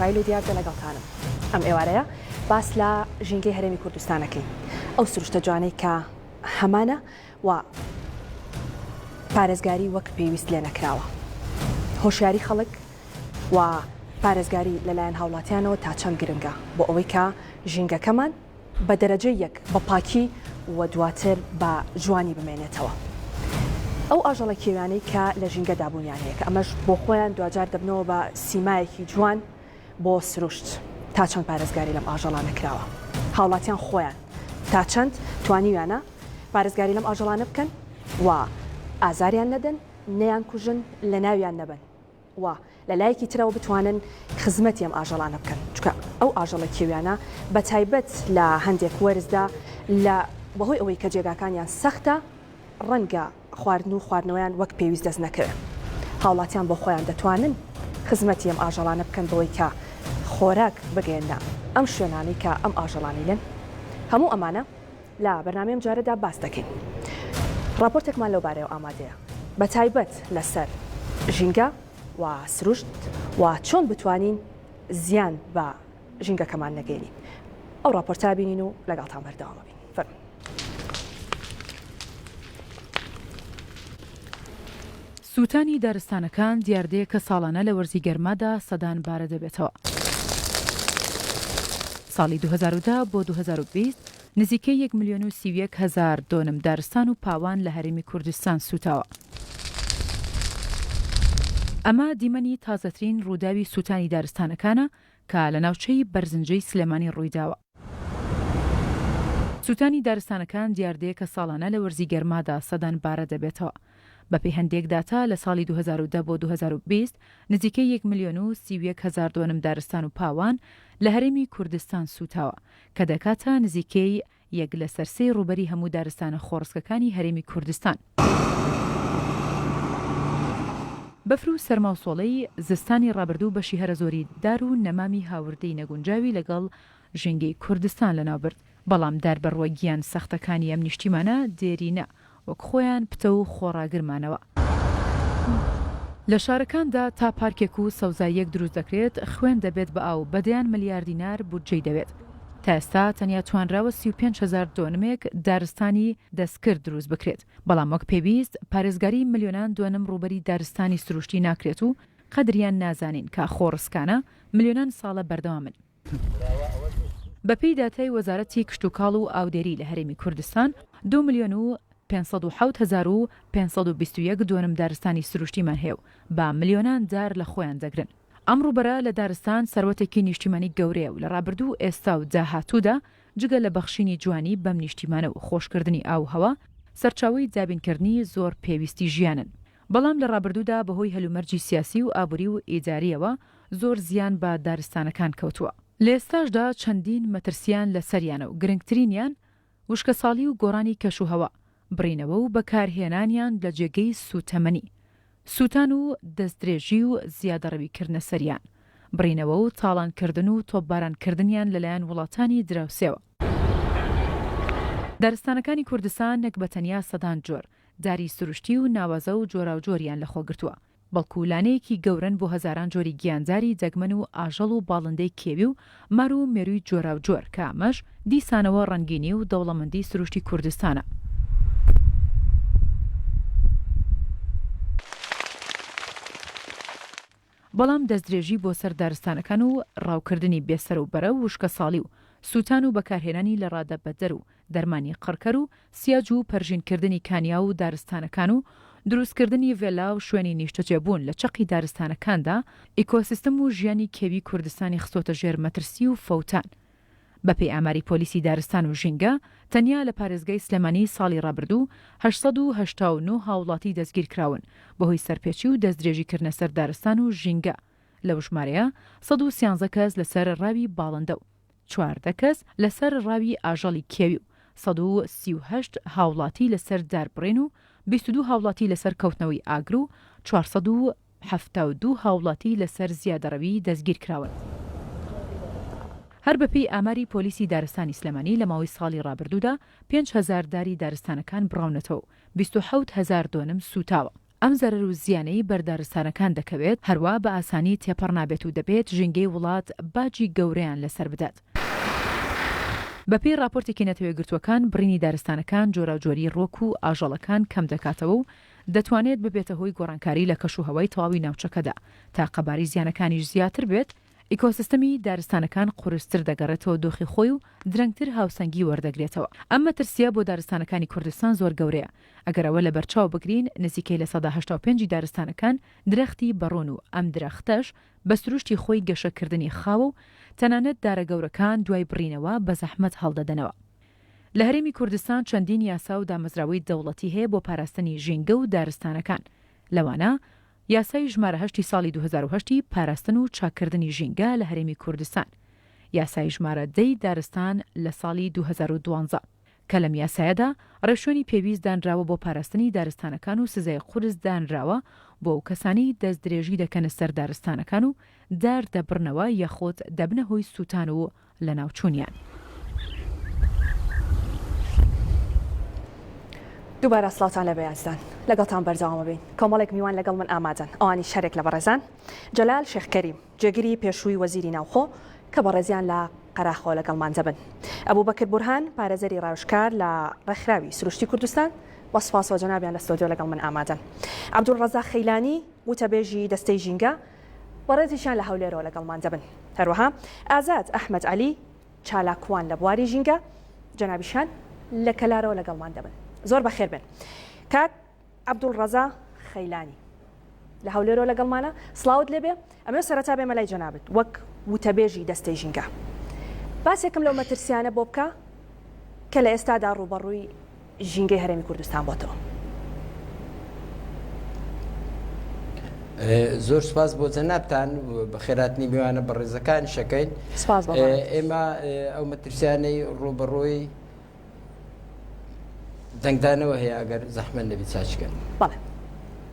فایل و دیاردە لەگەڵتانم. ئەم ئێوارەیە باس لە ژینگەی هەرێمی کوردستان ئەکەین ئەو سروشتە جوانەی کە هەمانە و پارێزگاری وەک پێویست لێ نەکراوە هۆشیاری خەڵک و پارێزگاری لەلایەن هاوڵاتیانەوە تا چەند گرنگە بۆ ئەوەی کە ژینگەکەمان بە دەرەجە یەک بە پاکی و دواتر بە جوانی بمێنێتەوە ئەو ئاژەڵە کێویانەی کە لە ژینگەدا بوونیان هەیە کە ئەمەش بۆ خۆیان دواجار دەبنەوە بە سیمایەکی جوان بۆ سروشت تا چەند پارێزگاری لەم ئاژەڵانە کراوە هاوڵاتیان خۆیان تا چەند توانیویانە پارێزگاری لەم ئاژەڵانە بکەن و ئازاریان نەدەن نەیان کوژن لە ناویان نەبەن. و لە لایەکی ترەوە بتوانن خزمەتی ئەم ئاژەڵانە بکەن چونکە ئەو ئاژەڵە کێویانە بە تایبەت لە هەندێک وەرزدا لە بەهۆی ئەوەی کە جێگاکانیان سەختە ڕەنگە خواردن و خواردنەوەیان وەک پێویست دەست نەکەوێت هاوڵاتیان بۆ خۆیان دەتوانن خزمەتی ئەم ئاژەڵانە بکەن بەوەی کە خۆراک بگەێنە ئەم شوێنانەی کە ئەم ئاژەڵانی لێن هەموو ئەمانە لە بەرنامەی ئەم جارەدا باس دەکەین. ڕاپۆرتێکمان لەو بارەیەوە ئامادەیە بە تایبەت لەسەر ژینگە و سروشت و چۆن بتوانین زیان بە ژینگەکەمان نەگەینین. ئەو ڕاپۆرتە بینین و لەگەڵتان بەردەوامە بین. فەرموو. سووتانی دارستانەکان دیاردەیەکە ساڵانە لە وەرزی گەرمادا سەدان بارە دەبێتەوە. ساڵی دوو هەزار و دە بۆ دوو هەزار و بیست نزیکەی یەک ملیۆن و سی و یەک هەزار دۆنم دارستان و پاوان لە هەرێمی کوردستان سووتاوە. ئەمە دیمەنی تازەترین ڕووداوی سووتانی دارستانەکانە کە لە ناوچەی بەرزنجەی سلێمانی ڕوویداوە. سووتانی دارستانەکان دیاردەیەکە ساڵانە لە وەرزی گەرمادا سەدان بارە دەبێتەوە. بەپێی هەندێک داتا لە ساڵی دوو هەزار و دە بۆ دوو هەزار و بیست نزیکەی یەک ملیۆن و سی و یەک هەزار دۆنم دارستان و پاوان لە هەرێمی کوردستان سووتاوە، کە دەکاتە نزیکەی یەک لەسەر سێی ڕووبەری هەموو دارستانە خۆڕسکەکانی هەرێمی کوردستان. بەفر و سەرما و سۆڵەی زستانی ڕابردوو بەشی هەرە زۆری دار و نەمامی هاوردەی نەگونجاوی لەگەڵ ژینگەی کوردستان لەناو برد، بەڵام دار بە ڕووە گیان سەختەکانی ئەم نیشتیمانە دێرینە وەک خۆیان پتەو و خۆڕاگر مانەوە. لە شارەکاندا تا پارکێک و سەوزاییەک دروست دەکرێت، خوێن دەبێت بە ئاو، بە دەیان ملیار دینار بودجەی دەوێت. تا ئێستا تەنیا توانراوە سی و پێنج هەزار دۆنمێک دارستانی دەستکرد دروست بکرێت، بەڵام وەک پێویست پارێزگاریی ملیۆنان دۆنم ڕووبەری دارستانی سروشتی ناکرێت و قەدریان نازانین کە خۆڕسکانە ملیۆنان ساڵە بەردەوامن. بەپێی داتای وەزارەتی کشتوکاڵ و ئاودێری لە هەرێمی کوردستان، دوو ملیۆن و پێنج سەد و حەوت هەزار و پێنج سەد و بیست و یەک دۆنم دارستانی سروشتیمان هەیە و بە ملیۆنان دار لە خۆیان دەگرن. ئەم ڕووبەرە لە دارستان سەروەتێکی نیشتیمانی گەورەیە و لە ڕابردوو و ئێستا و داهاتوودا جگە لە بەخشینی جوانی بەم نیشتیمانە و خۆشکردنی ئاووهەوا، سەرچاوەی دابینکردنی زۆر پێویستی ژیانن. بەڵام لە ڕابردوودا بەهۆی هەلومەرجی سیاسی و ئابووری و ئیدارییەوە زۆر زیان بە دارستانەکان کەوتووە، لە ئێستاشدا چەندین مەترسییان لەسەریانە و گرنگترینیان وشکەساڵی و گۆڕانی کەشوهەوا، بڕینەوە و بەکارهێنانیان لە جێگەی سووتەمەنی، سووتان و دەستدرێژی و زیادەڕەویکردنە سەریان، بڕینەوە و تاڵانکردن و تۆپبارانکردنیان لەلایەن وڵاتانی دراوسێوە. دارستانەکانی کوردستان نەک بە تەنیا سەدان جۆر، داری سروشتی و ناوازە و جۆراوجۆریان لەخۆ گرتووە، بەڵکو لانەیەکی گەورەن بۆ هەزاران جۆری گیانداری دەگمەن و ئاژەڵ و باڵندەی کێوی و مار و مێرووی جۆراوجۆر کە ئەمەش دیسانەوە ڕەنگینی و دەوڵەمەندی سروشتی کوردستانە. بەڵام دەستدرێژی بۆ سەر دارستانەکان و ڕاوکردنی بێ سەر و بەرە و وشکەساڵی و سووتان و بەکارهێنانی لەڕادە بەدەر و دەرمانی قڕکەر و سیاج و پەرژینکردنی کانیاو و دارستانەکان و دروستکردنی ڤێلا و شوێنی نیشتەجێبوون لە چەقی دارستانەکاندا ئیکۆسیستم و ژیانی کێوی کوردستانی خستۆتە ژێر مەترسی و فەوتان بەپێی ئاماری پۆلیسی دارستان و ژینگە، تەنیا لە پارێزگای سلێمانی ساڵی ڕابردوو هەشت سەد و هەشتا و نۆ هاوڵاتی دەستگیرکراون بەهۆی سەرپێچی و دەستدرێژیکردنە سەر دارستان و ژینگە، لەو ژمارەیە سەد و سیانزە کەس لەسەر ڕاوی باڵندە و چواردە کەس لەسەر ڕاوی ئاژەڵی کێوی و سەد و سی و هەشت هاوڵاتی لەسەر داربڕین و بیست و دوو هاوڵاتی لەسەر کەوتنەوەی ئاگر و چوار سەد و حەفتا و دوو هاوڵاتی لەسەر زیادەڕەوی دەستگیرکراون. هەر بەپێی ئاماری پۆلیسی دارستانی سلێمانی لە ماوەی ساڵی ڕابردوودا پێنج هەزار داری دارستانەکان بڕاونەتەوە و بیست و حەوت هەزار دۆنم سووتاوە، ئەم زەرەر و زیانەی بەر دارستانەکان دەکەوێت هەروا بە ئاسانی تێپەڕ نابێت و دەبێت ژینگەی وڵات باجی گەورەیان لەسەر بدات. بەپێی ڕاپۆرتێکی نەتەوەیەکگرتووەکان بڕینی دارستانەکان جۆراوجۆریی ڕووەک و ئاژەڵەکان کەمدەکاتەوە و دەتوانێت ببێتە هۆی گۆڕانکاری لە کەشوهەوای تەواوی ناوچەکەدا، تا قەبارەی زیانەکانیش زیاتر بێت، ئیکۆسیستەمی دارستانەکان قورستر دەگەڕێتەوە دۆخی خۆی و درەنگتر هاوسەنگی وەردەگرێتەوە، ئەم مەترسییە بۆ دارستانەکانی کوردستان زۆر گەورەیە، ئەگەر ئەوە لەبەرچاو بگرین نزیکەی لە سەدا هەشتا و پێنج ی دارستانەکان درەختی بەڕۆن و ئەم درەختەش بە سروشتی خۆی گەشەکردنی خاوە و تەنانەت دارە گەورەکان دوای بڕینەوە بە زەحمەت هەڵدەدەنەوە لە هەرێمی کوردستان چەندین یاسا و دامەزراوەی دەوڵەتی هەیە بۆ پاراستنی ژینگە و دارستانەکان، لەوانە، یاسای ژمارە هەشت ی ساڵی دوو هەزار و هەشت ی پاراستن و چاککردنی ژینگە لە هەرێمی کوردستان، یاسای ژمارە دە ی دارستان لە ساڵی دوو هەزار و دوازدە، کە لەم یاسایەدا ڕێوشوێنی پێویست دانراوە بۆ پاراستنی دارستانەکان و سزای قورس دانراوە بۆ ئەو کەسانەی دەستدرێژی دەکەنە سەر دارستانەکان و دار دەبڕنەوە یاخود دەبنە هۆی سووتان و لەناوچوونیان. دووبارە سڵاوتان لێبێ ئازیزان لەگەڵتان بەردەوامەبین کۆمەڵێک میوان لەگەڵ من ئامادەن ئەوانیش هەرێک لە بەڕێزان جەلال شێخ کەریم جێگری پێشووی وەزیری ناوخۆ کە بەڕێزیان لە قەراخەوە لەگەڵمان دەبن ئەبوبەکر بورهان پارێزەری ڕاوێژکار لە ڕێکخراوی سروشتی کوردستان بە سوپاسەوە جەنابیان لە ستۆدیۆ لەگەڵ من ئامادەن عەبدولڕەزاق خەیلانی وتەبێژی دەستەی ژینگە و ڕێزیشیان لە هەولێرەوە لەگەڵمان دەبن. هەروەها ئازاد ئەحمەد عەلی چالاکوان لە بواری ژینگە جەنابیشیان لە کەلارەوە لەگەڵمان دەبن. زۆر بەخێر بێن. کاک عەبدولڕەزا خەیلانی لە هەولێرەوە لەگەڵمانە. سڵاوت لێ بێ. ئەمەوێ سەرەتا بێمە لای جەنابت وەک وتەبێژی دەستەی ژینگە. باسێکم لەو مەترسییانە بۆ بکە کە لە ئێستادا ڕووبەڕووی. ژینگەی هەرێمی کوردستان بۆتەوە. زۆر سپاس بۆ جەنابتان بەخێراتنی میوانە بەڕێزەکانشەکەین ئێمە ئەو مەترسیانەی ڕوبەڕۆی دەنگدانەوە هەیە ئەگەر زەحمە نەبی چاچکەن.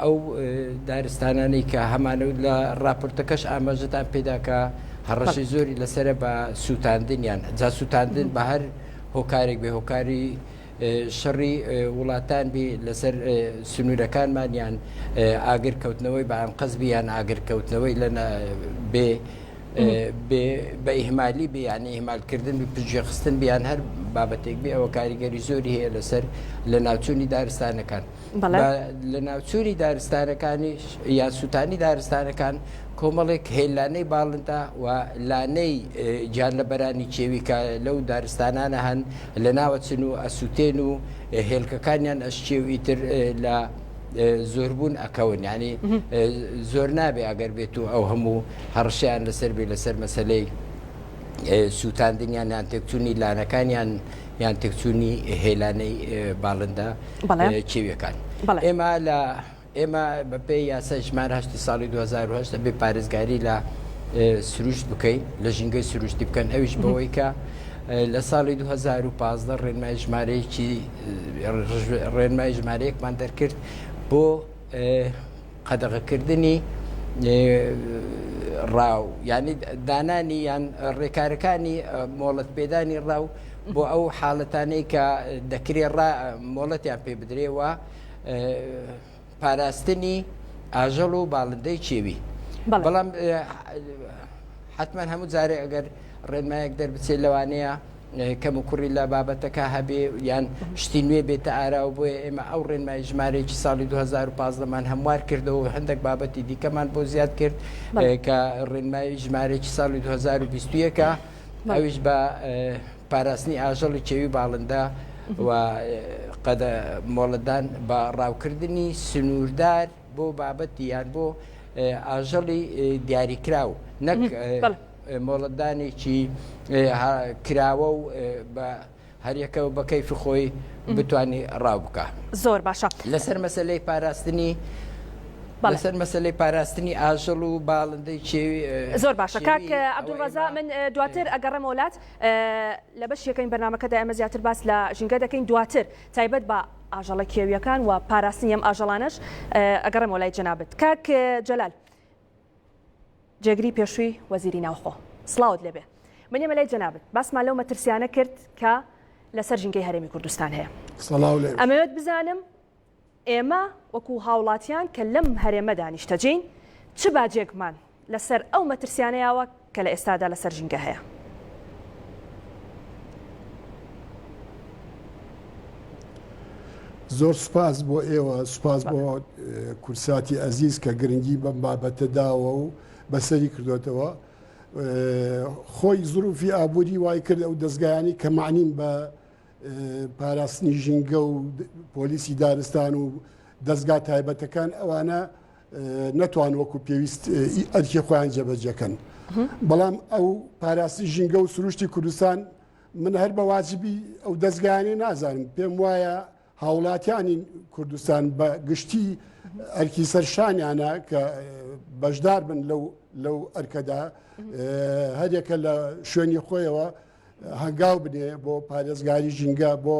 ئەو دارستانانەی کە هەمانە و لە ڕاپۆرتەکەش ئاماژەتان پێدا کە هەڕەشەی زۆری لەسرە بە سووتاندنیان جا سووتاندن بە هەر هۆکارێک بێ هۆکاری شەڕی وڵاتان بی لەسەر سنوورەکانمانیان ئاگرکەوتنەوەی بە ئەنقەزبییان ئاگرکەوتنەوەی لە بێ بە ئیهمالی بیانی ئیهمالکردن و پژێخستن بیان هەر بابەتێک بێ ئەوە کاریگەری زۆری هەیە لەسەر لە ناوچوونی دارستانەکان. لە ناوچووری دارستانەکانیش یا سووتانی دارستانەکان کۆمەڵێک هێلانەی باڵندە و لانەی جار لە بەرانی کێوی کە لەو دارستانانە هەن لە ناوەچن و ئەسووتێن و هێلکەکانیان ئەشکێ و ئیتر لە زۆربوون ئەکەون ینی زۆر نابێ ئەگەر بێت و ئەو هەموو هەڕشیان لەسەر بێ لەسەر مەسلەی سووتاندنیان یان تێکچوونی لانەکانیان یان تێکچوونی هێلانەی باڵندە کێویەکان ئێمە لە ئێمە بەپێ یاسا ژمار هەشتی ساڵی 2010 بێ پارێزگاری لە سروشت بکەین لە ژینگەی سروشتی بکەن ئەویش بەوەی کە لە ساڵی 2015 ڕێنمای ژمارەیەکی ڕێنمای ژمارەیەکمان دەرکرد بۆ قەدەغەکردنی ڕاو یعنی دانانی یان ڕێکارەکانی مۆڵەت پێدانی ڕاو بۆ ئەو حاڵەتانەی کە دەکرێ مۆڵەتیان پێ بدرێەوە پاراستنی ئاژەڵ و باڵندەی چێوی بەڵام حتمما هەموو جارێ ئەگەر ڕێنمایەک دەربچێت لەوانەیە کەموکوڕی لە بابەتەکە هەبێ یان شتی نوێ بێتە ئارا و بۆیە ئێمە ئەو ڕێنمای ژمارەیەکی ساڵی 2015 مان هەموار کردەوە هەندێک بابەتی دیکەمان بۆ زیاد کرد کە ڕێنمای ژمارەیەکی ساڵی 2021ەکە ئەویش بە پاراستنی ئاژەڵی چێوی باڵندە و قەدە مۆڵەدان بە ڕاوکردنی سنووردار بۆ بابەتی یان بۆ ئاژەڵی دیاریکراو نەک مۆڵەتدانێکی کراوە و بە هەریەکە بە کەیفی خۆی بتانی ڕاو بکە. زۆر باشە. لەسەر مەسەلەی پاراستنی بەسەر مەسلەی پاراستنی ئاژەڵ و باڵندەی چێوی زۆر باشە کاک عبدالرزا من دواتر ئەگەڕێم وڵات لە بەش یەکەین بەرنمەکەدا ئەمە زیاتر باس لە ژینگە دەکەین دواتر تایبەت بە ئاژەڵە کێویەکان و پاراستنی ئەم ئاژەڵانش ئەگەڕێم وڵای جەنابەت کاک جەلال جێگری پێشووی وەزیری ناوخۆ سڵاوت لێبێ منێمە لای جەنابت باسمان لەو مەترسیانە کرد کە لەسەر ژینگەی هەرێمی کوردستان هەیە ئەمەوێت بزانم ئێمە وەکو هاوڵاتیان کە لەم هەرێمەدا نیشتەجین چ باجێکمان لەسەر ئەو مەترسیانەیەوە کە لە ئێستادا لەسەر ژینگە هەیە. زۆر سوپاس بۆ ئێوە سوپاس بۆ کورساتی ئەزیز کە گرنگی بەم بابەتە داوە و بەسەری کردوێتەوە خۆی زروفی ئابووری وای کرد ئەو دەستگایانی کە معنیم بە پاراستنی ژینگە و پۆلیسی دارستان و دەستگا تایبەتەکان ئەوانە نەتوان وەکو پێویست ئەرکی خۆیان جێبەجێکەن بەڵام ئەو پاراسی ژینگە و سروشتی کوردستان من هەر بە واجبی ئەو دەستگایانەی نازانم پێم وایە هاوڵاتیانی کوردستان بە گشتی ئەرکی سەرشانیانە کە بەشدار بن لەو لەو ئەرکەدا هەرێکە لە شوێنی خۆیەوە هەنگاو بنێ بۆ پارێزگاری ژینگە بۆ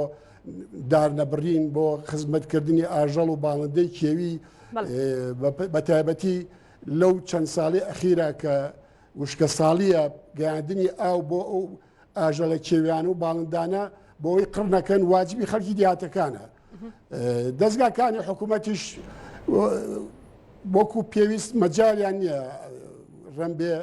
دارنەبڕین بۆ خزمەتکردنی ئاژەڵ و باڵندەی کێوی بە تایبەتی لەو چەند ساڵی ئەخیرا کە وشکە ساڵیە گەیاندنی ئاو بۆ ئەو ئاژەڵە کێویان و باڵندانە بۆی قڕنەکەن واجبی خەڵکی دیاتەکانە دەستگاکانی حکوومەتیش وەکو پێویست مەجاریان نییە ڕەمبێ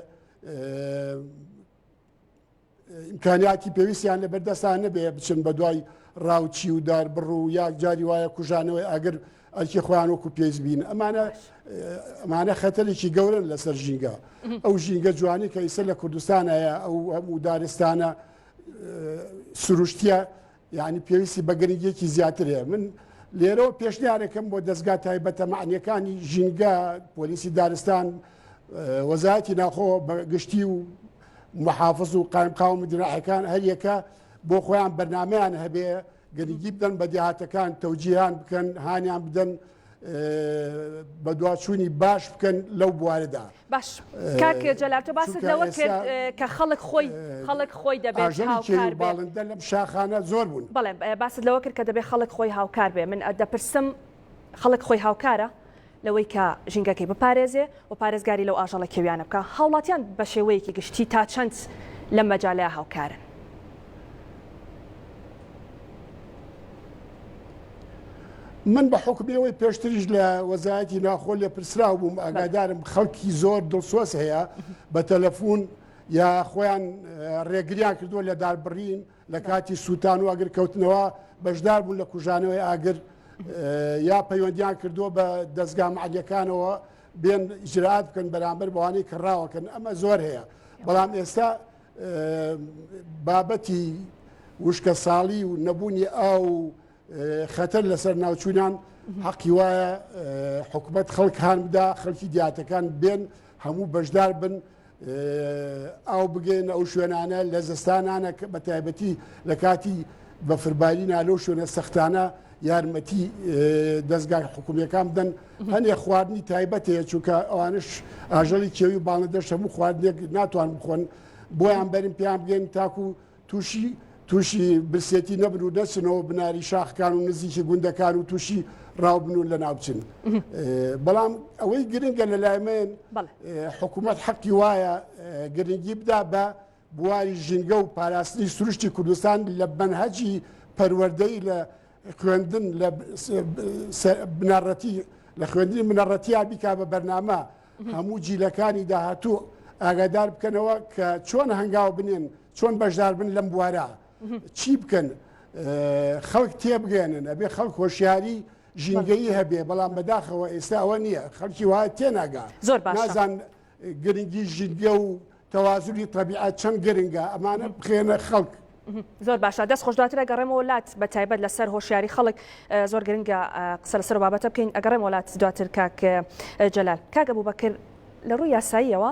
ئیمکانیاتی پێویستیان لە بەردەستان نەبێ بچن بە دوای ڕاوچی و دار بڕ و یا جاری وایە کوژانەوەی ئەگەر ئەلکی خۆیان وەکو پێیز بین ئەمانە ئەمانە خەتەلێکی گەورن لەسەر ژینگە ئەو ژینگە جوانی کە ئیسە لە کوردستان هەیە ئەو هەموو دارستانە سروشتە یانی پێویستی بە گرنگیەکی زیاتر هەیە من لێرەوە پێشنیارێکم بۆ دەستگا تایبەتە معنیەکانی ژینگە پۆلیسی دارستان وەزایەتی ناخۆ بە گشتی و محافظ و قایمقاوم دراعەکان هەریەکە بۆ خۆیان بەرنمەیان هەبێ گەنگی بدەن بە دیهاتەکان تەوجییان بکەن هانیان بدەن بەدواچوونی باش بکەن لەو بوارەدا باش کاک جەلال تۆ باست لەوە کرد کە خەڵک خۆی خەڵک خۆی دەبێت هاوکار باڵندە لەم شاخانە زۆر بوون بەڵێ باست لەوە کرد کە دەبێت خەڵک خۆی هاوکار بێ من دەپرسم خەڵک خۆی هاوکارە لەوەی کە ژینگەکەی بپارێزێ و پارێزگاری لەو ئاژەڵە کێویانە بکا، هاوڵاتیان بە شێوەیەکی گشتی تا چەند لەم مەجالە هاوکارن؟ من بە حوکمی ئەوەی پێشتریش لە وەزایەتی ناخۆ لێ پرسراو بووم ئاگادارم خەڵکی زۆر دڵسۆز هەیە بە تەلەفۆن یا خۆیان ڕێگریان کردووە لە داربڕین لە کاتی سووتان و ئاگرکەوتنەوە بەشدار بوون لە کوژانەوەی ئاگر یا پەیوەندیان کردووە بە دەستگا معلیەکانەوە بێن ئیجرات بکەن بەرامبەر بەوانەی کە ڕاوەکەن ئەمە زۆر هەیە بەڵام ئێستا بابەتی وشکە ساڵی و نەبوونی ئاو خەتەر لەسەر ناوچوونان حەقی وایە حکوومەت خەڵک هاان بدا خەڵکی دیاتەکان بێن هەموو بەشدار بن ئاو بگێنە ئەو شوێنانە لە زستانانە کە بە تایبەتی لە کاتی بەفربارینا لەو شوێنە سەختانە یارمەتی دەستگای حکومیەکان بدەن هەنێ خواردنی تایبەت هەیە چونکە ئەوانش ئاژەڵی کێوی باڵندەش هەموو خواردنێک ناتوان بخۆن بۆیان بەرم پێیان بگەن تاکو تووشی تووشی برسێتی نەبن و نەچنەوە بناری شاخکان و نزیکی گوندەکان و تووشی ڕاوبن و لە ناوچن بەڵام ئەوەی گرنگە لە لای من حکوومەت حەقی وایە گرنگی بدا بە بواری ژینگە و پاراستنی سروشتی کوردستان لە بەنهەجی پەروەردەی لە خوێندن لە بنەڕەتی لە خوێندنی منەڕەتیا بیکا بە بەرنامە هەموو جیلەکانی داهاتوو ئاگادار بکەنەوە کە چۆن هەنگاو بنێن چۆن بەشدار بن لەم بوارە چی بکەن خەڵک تێبگەێنن ئەبێ خەڵک هۆشیاری ژینگەی هەبێ بەڵام بەداخەوە ئێستا ئەوە نییە خەڵکی وە تێناگا زۆر باشزان گرنگی ژینگە و تەوازوی طبیعات چەند گرنگە ئەمانە بخێنە خەڵک. زۆر باشە دەست خۆشداترە گەڕێمەوە لات بە تایبەت لەسەر هۆشیاری خەڵک زۆر گرنگە قسە لەسەر بابەتە بکەین ئەگەڕێم وڵات دواتر کاک جەلال کاگە بوو بەکرد لە ڕووی یاساییەوە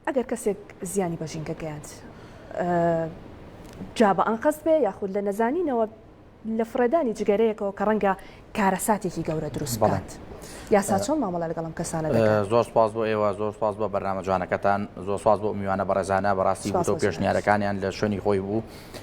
ئەگەر کەسێک زیانی بە ژینگە گەیاند جا بە ئەنقەست بێ یاخود لە نەزانینەوە لە فڕێدانی جگەرەیەکەوە کە ڕەنگە کارەساتێکی گەورە دروست بڵێت. یاسا چۆن مامەڵە لەگەڵم کەسانە زۆر سپاس بۆ ئێوە زۆر سپاس بۆ بەرنامە جوانەکەتان زۆر سپاس بۆ میوانە بەڕێزانە بەڕاستی بۆ پێشنیارەکانیان لە شوێنی خۆی بوو.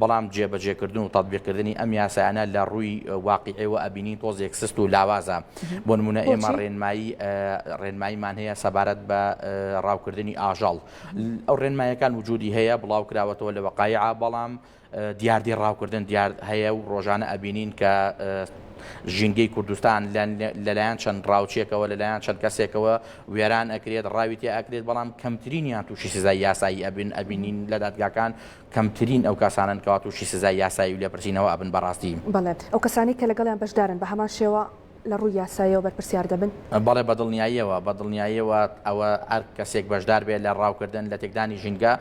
بەڵام جێبەجێکردن و تەتبیقکردنی ئەم یاسایانە لە ڕووی واقیعیەوە ئەبینین تۆزێک سست و لاوازە. بۆ نموونە ئێمە ڕێنمایی ڕێنماییمان هەیە سەبارەت بە ڕاوکردنی ئاژەڵ. ئەو ڕێنماییەکان وجوودی هەیە، بڵاوکراوەتەوە لە وەقایعا، بەڵام دیاردەی ڕاوکردن دیارد هەیە و ڕۆژانە ئەبینین کە ژینگەی کوردستان لەلایەن چەند ڕاوچێکەوە لەلایەن چەند کەسێکەوە وێران ئەکرێت ڕاوی تێ ئەکرێت بەڵام کەمترینیان تووشی سزای یاسایی ئەبن ئەبینین لە دادگاکان کەمترین ئەو کەسانەن کەوا تووشی سزای یاسایی و لێپرسینەوە ئەبن بەڕاستی. بەڵێ، ئەو کەسانەی کە لەگەڵیان بەشدارن بە هەمان شێوە لە ڕووی یاساییەوە بەرپرسیار دەبن؟ بەڵێ بە دڵنیاییەوە، بە دڵنیاییەوە ئەوە هەر کەسێک بەشدار بێت لە ڕاوکردن، لە تێکدانی ژینگە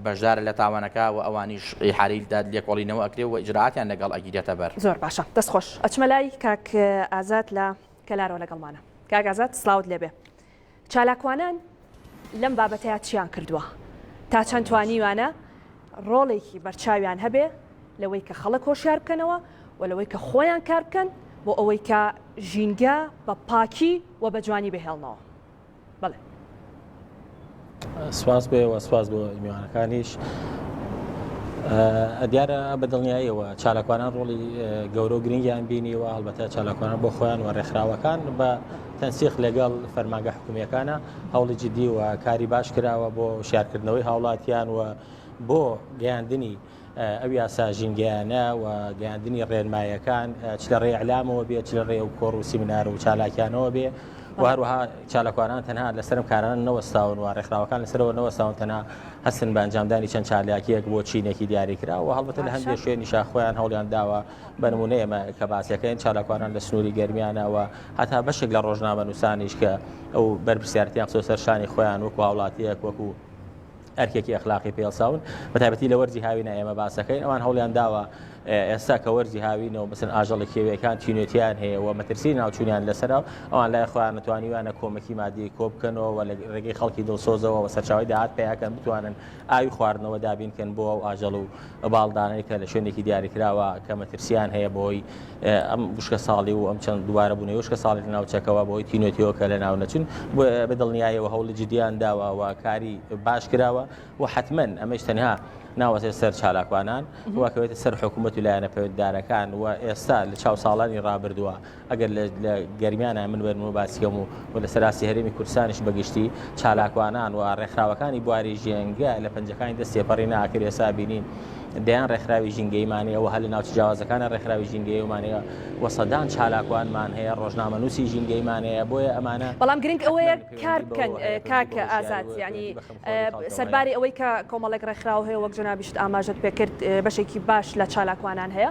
بەشدارە لە تاوانەکە و ئەوانیش ئیحالەی لێکۆڵینەوە ئەکرێ و ئیجرائاتیان لەگەڵ ئەگیرێتە بەر. زۆر باشە، دەست خۆش. ئەچمە لای کاک ئازاد لە کەلارەوە لەگەڵمانە. کاک ئازاد سڵاوت لێبێ. چالاکوانان لەم بابەتەیا چیان کردووە؟ تا چەند توانیویانە ڕۆڵێکی بەرچاویان هەبێ لەوەی کە خەڵک هۆشیار بکەنەوە و لەوەی کە خۆیان کار بکەن بۆ ئەوەی کە ژینگە بە پاکی و بە جوانی بهێڵنەوە؟ بەڵێ. سپاس بۆ ئێوە سپاس بۆ میوانەکانیش دیارە بە دڵنیاییەوە چالاکوانان ڕۆڵی گەورە و گرنگیان بینی و هەڵبەتە چالاکوانان بۆ خۆیان و ڕێکخراوەکان بە تەنسیق لەگەڵ فەرماگە حکومیەکانە هەوڵی جددی و کاری باش کراوە بۆ شارکردنەوەی هاوڵاتیان و بۆ گەیاندنی ئەو یاسا ژینگەیانە و گەیاندنی ڕێنمایەکان چ لە ڕێی ئەلامەوە بێت چ لە ڕێ و کۆڕ و سیمینار و چالاکیانەوە بێ و هەروەها چالاکوانان تەنها لەسەرم کارانە نەوەستاون و ڕێکخراوەکان لەسەرەوە نەوەستاون تەنها هەستن بە ئەنجامدانی چەند چالاکیەک بۆ چینێکی دیاریکرا و هەڵبەتە لە هەندێک شوێنیشا خۆیان هەوڵیان داوە بە نمونە ئێمە کە باسەکەین چالاکوانان لە سنووری گەرمیانەوە هەتا بەشێک لە ڕۆژنامە نووسانیش کە ئەو بەرپرسیارتیان خستۆ سەر شانی خۆیان وەکو هاوڵاتیەک وەکو ئەرکێکی ئەخلاقی پێڵساون بە تایبەتی لە وەرزی هاوینا ئێمە باسەکەین ئەوان هەوڵیان داوە ئێستا کە وەرزی هاوینەوە بەسن ئاژەڵی کێویەکان تینوێتیان هەیە و مەترسی ناوچوونیان لەسەرا ئەوان لای خۆیان نتوانیوانە کۆمەکی مادی کۆ بکەنەوە و لە ڕێگەی خەڵکی دڵسۆزەوە و سەرچاوی داهات پیاکەن بتوانن ئاوی خواردنەوە دابینکەن بۆ ئەو ئاژەڵ و باڵدانەوەی کە لە شوێنێکی دیاریکراوە کە مەترسیان هەیە بۆی ئەم وشکە ساڵی و ئەم چەند دووارە بوونەوە وشکە ساڵی لە ناوچەکەەوە بۆی تینۆتیەوە کە لە ناو نەچون بۆ بە دڵنیایەوە هەوڵی جددیان داوە و کاری باش کراوە و حتممەن ئەمەش تەنها ناوەسێت سەر چالاکوانان وەکەوێتە سەر حکوومەت و لایەنە پەیوەنددارەکان و ئێستا لە چاو ساڵانی ڕابردووە ئەگەر لە گەرمیانە من وێنمە باسیکەم و و لەسەر ئاستی هەرێمی کوردستانیش بەگشتی چالاکوانان و ڕێکخراوەکانی بواری ژێنگە لە پەنجەکانی دەست تێپەڕی ناکرێ ئێستا بینین دەیان ڕێکخراوی ژینگەیمانەیە و هەر لە ناوچە جیاوازەکانە ڕێکخراوی ژینگەیمانەیە و سەدان چالاکوانمان هەیە ڕۆژنامە نووسی ژینگەیمانەیە بۆیە ئەمانە بەڵام گرنگ ئەوەیە کار بکەن کاکە ئازاد ینی سەرباری ئەوەی کە کۆمەڵێک ڕێکخراو هەیە وەک جەنابیشت ئاماژەت پێکرد بەشێکی باش لە چالاکوانان هەیە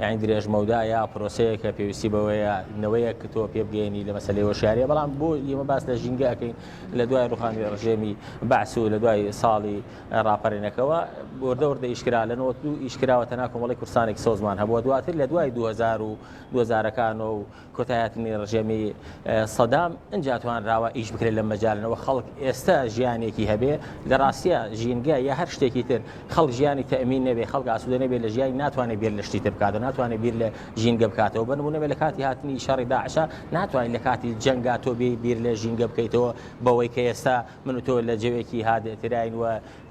یانی درێژمەودا یا پرۆسەیەکە پێویستی بەوەیە نەوەیەک کە تۆ پێ بگەێنی لە مەسلەی هۆشیاریە بەڵام بۆ ئێمە باس لە ژینگە ئەەکەین لە دوای ڕوخانی ڕژێمی بەعس و لە دوای ساڵی ڕاپەرینەکەەوە بۆردە وردە ئیشکرا لە نۆ ئیشکراوە تەنا کۆمەڵی کورسانێک سۆزمان هەبووە دواتر لە دوای 2000 و 2000ەکانەوە و کۆتایهاتنی ڕژێمی سەدام ئنجا توانراوە ئیش بکرێت لەم مەجالەوە خەڵک ئێستا ژیانێکی هەبێ لە ڕاستە ژینگە یا هەر شتێکی تر خەڵک ژیانی تەمین نەبێ خەڵک ئاسوودە نەبێت لە ژیانی ناتوانێت بیر لە شتی تر بکاتەوە ناتوانێت بیر لە ژینگە بکاتەوە بنمونەبێت لە کاتی هاتنی شەڕی داعشە ناتوانین لە کاتی جەنگا تۆ بیر لە ژینگە بکەیتەوە بەوەی کە ئێستا من و تۆ لە جەوێکی هادئتراین و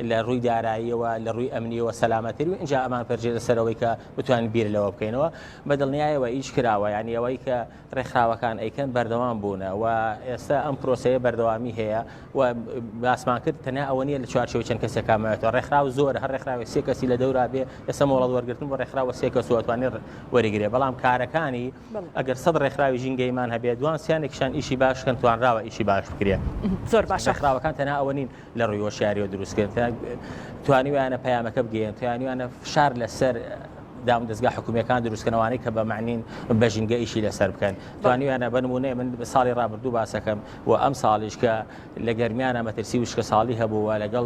لە ڕووی داراییەوە، لە ڕووی ئەمنییەوە سەلامەتترین و ئینجا ئەمان پەرژێتە سەر ئەوەی کە بتوانین بیر لەوە بکەینەوە. بە دڵنیایەوە ئیش کراوە، یانی ئەوەی کە ڕێکخراوەکان ئەیکەن بەردەوام بوونە و ئێستا ئەم پرۆسەیە بەردەوامی هەیە و باسمان کرد تەنیا ئەوە نییە لە چوارچێوەی چەند کەسێکا مایەتەوە، ڕێکخراو زۆرە، هەر ڕێکخراوێک سێ کەسی لە دەورا بێ، ئێستا مۆڵەت وەرگرتن بۆ ڕێکخراوە سێ کەس و ئەتوانێ وەریگرێ، بەڵام کارەکانی ئەگەر سەد ڕێکخراوی ژینگەییمان هەبێ، دوان سیانێکیشیان ئیشی باش کەن توانراوە ئیشی باش بکرێ. زۆر باشە. ڕێکخراوەکان تەنیا ئەوە نین لە ڕووی هۆشیاریەوە دروستکرد توانیویانە پەیامەکە بگەن توانیوانە فشار لەسەر دام دەستگا حکومیەکان دروستکەنەوانی کە بە معنین بە ژینگە ئیشی لەسەر بکەن توانیویانە بنمونێ من ساڵی ڕابردوو باسەکەم و ئەم ساڵیش کە لە گەرمیانە مەترسی وشکە ساڵی هەبوو و لەگەڵ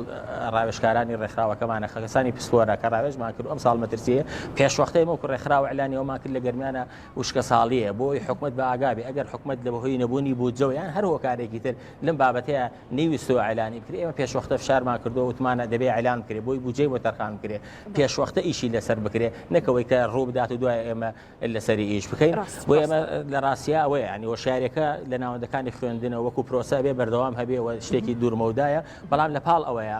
ڕاوێشکارانی ڕێکخراوەکەمانە خەکەسانی پسپۆرە کە ڕاوێژمان کرد ئەم ساڵ مەترسی پێشوەختەی مەکو ڕێکخراوە ئەلانیەوەمان کرد لە گەرمیانە وشکە ساڵیە بۆی حکومت بە ئاگابی ئەگەر حکومت لە بەهۆی نەبوونی بودجەوەیان هەر هۆکارێکی تر لەم بابەتەیە نەیویستووە ئیعلانی بکرێ، ئێمە پێشوەختە فشارمان کردووە وتمانە دەبێ ئیعلان بکرێ، بۆی بودجەی بۆ تەرخان بکرێ، پێشوەختە ئیشی لەسەر بکرێ، نەک ئەوەی کە ڕوو بدات و دوای ئێمە لەسەری ئیش بکەین، بۆیە ئێمە لە ڕاستیا ئەوەیە، یانی هۆشیارێکە لە ناوەندەکانی خوێندنەوە وەکوو پرۆسە ئەبێ بەردەوام هەبێ و شتێکی دوورمەودایە، بەڵام لەپاڵ ئەوەیە،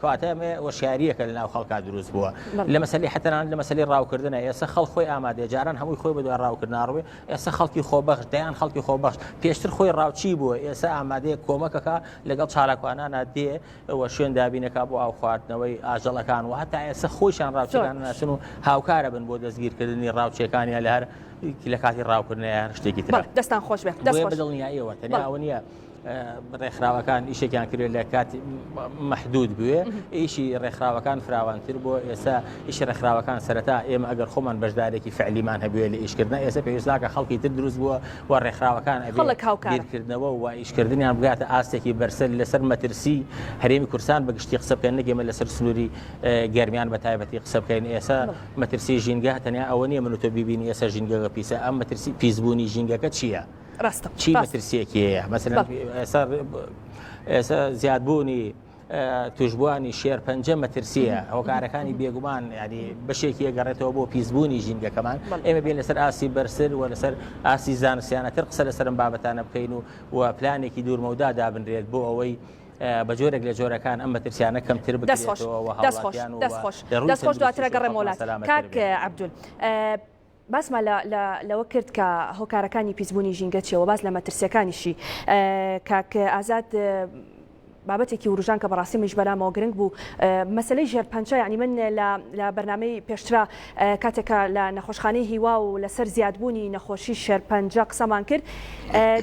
کەواتە ئەمە وەشیارییەکە لەناو خەڵکا دروست بووە لە مەسەلی حەتەنان لە مەسەلی ڕاوکردنە ئێستا خەڵ خۆی ئامادەێ جاران هەمووی خۆی بەدوای ڕاوکردناڕوێ ئێستا خەڵکی خۆبەخش دەیان خەڵکی خۆبەخش پێشتر خۆی ڕاوچی بووە ئێستا ئامادەیە کۆمەکەکە لەگەڵ چالاکوانانە دێ وە شوێن دابینەکە بۆ ئاو خواردنەوەی ئاژەڵەکان و هەتا ئێستا خۆشیان ڕاوچەکان ناسن و هاوکارە بن بۆ دەستگیرکردنی ڕاوچەکانیان لە هەر لە کاتی ڕاوکردنیان شتێکی تر دەستان خۆش بێت دڵنیاییەوە تەنیا ئەوە نیە ڕێکخراوەکان ئیشێکیان کرێ لە کاتی محدود بوێ ئیشی ڕێکخراوەکان فراوانتر بۆ ئێستا ئیشی ڕێکخراوەکان سەرەتا ئێمە ئەگەر خۆمان بەشدارێکی فعلیمان هەبێ لە ئیشکردن ئێستا پێویستناکە خەڵکی تر دروست بووە و ڕێکخراوەکان ئەبیرکردنەوە و ئیشکردنیان بگاتە ئاستێکی بەرسەر لەسەر مەترسی هەرێمی کورسان بە گشتی قسە بکەن نەگەمە لەسەر سنووری گەرمیان بە تایبەتی قسە بکەین ئێستا مەترسی ژینگە تەنیا ئەوە نیە من تۆ ببینی ئێستا ژینگەگە پیسە ئەم مەترسی پیسبوونی ژینگەکە چییە؟ ڕاستە چی مەترسیەکی هەیە مەسەن ئێستا ئێستا زیادبوونی توشببووانی شێر پەنجە مەترسیە هۆکارەکانی بێگومان ینی بەشێکی ئەگەڕێتەوە بۆ پیسبوونی ژینگەکەمان ئێمە بێن لەسەر ئاسی بەرسەر و لەسەر ئاسی زانسیانەتر قسە لەسەرم بابەتانە بکەین و و پلانێکی دوورمەودا دابنرێت بۆ ئەوەی بە جۆرێک لە جۆرەکان ئەم مەترسیانە کەمتر بکەشەوە خۆش دواترەگەڕێ مۆلات کاک عبدول باسمان لە لە لەوە کرد کە هۆکارەکانی پیسبوونی ژینگە چیە وە باس لە مەترسیەکانیشی کاک ئازاد بابەتێکی وروژان کە بەڕاستی منیش بەلامەوە گرنگ بوو مەسلەی ژێر پەنچە یعنی من لە بەرنمەی پێشترا کاتێکە لە نەخۆشخانەی هیوا و لەسەر زیادبوونی نەخۆشی شێرپەنجە قسەمان کرد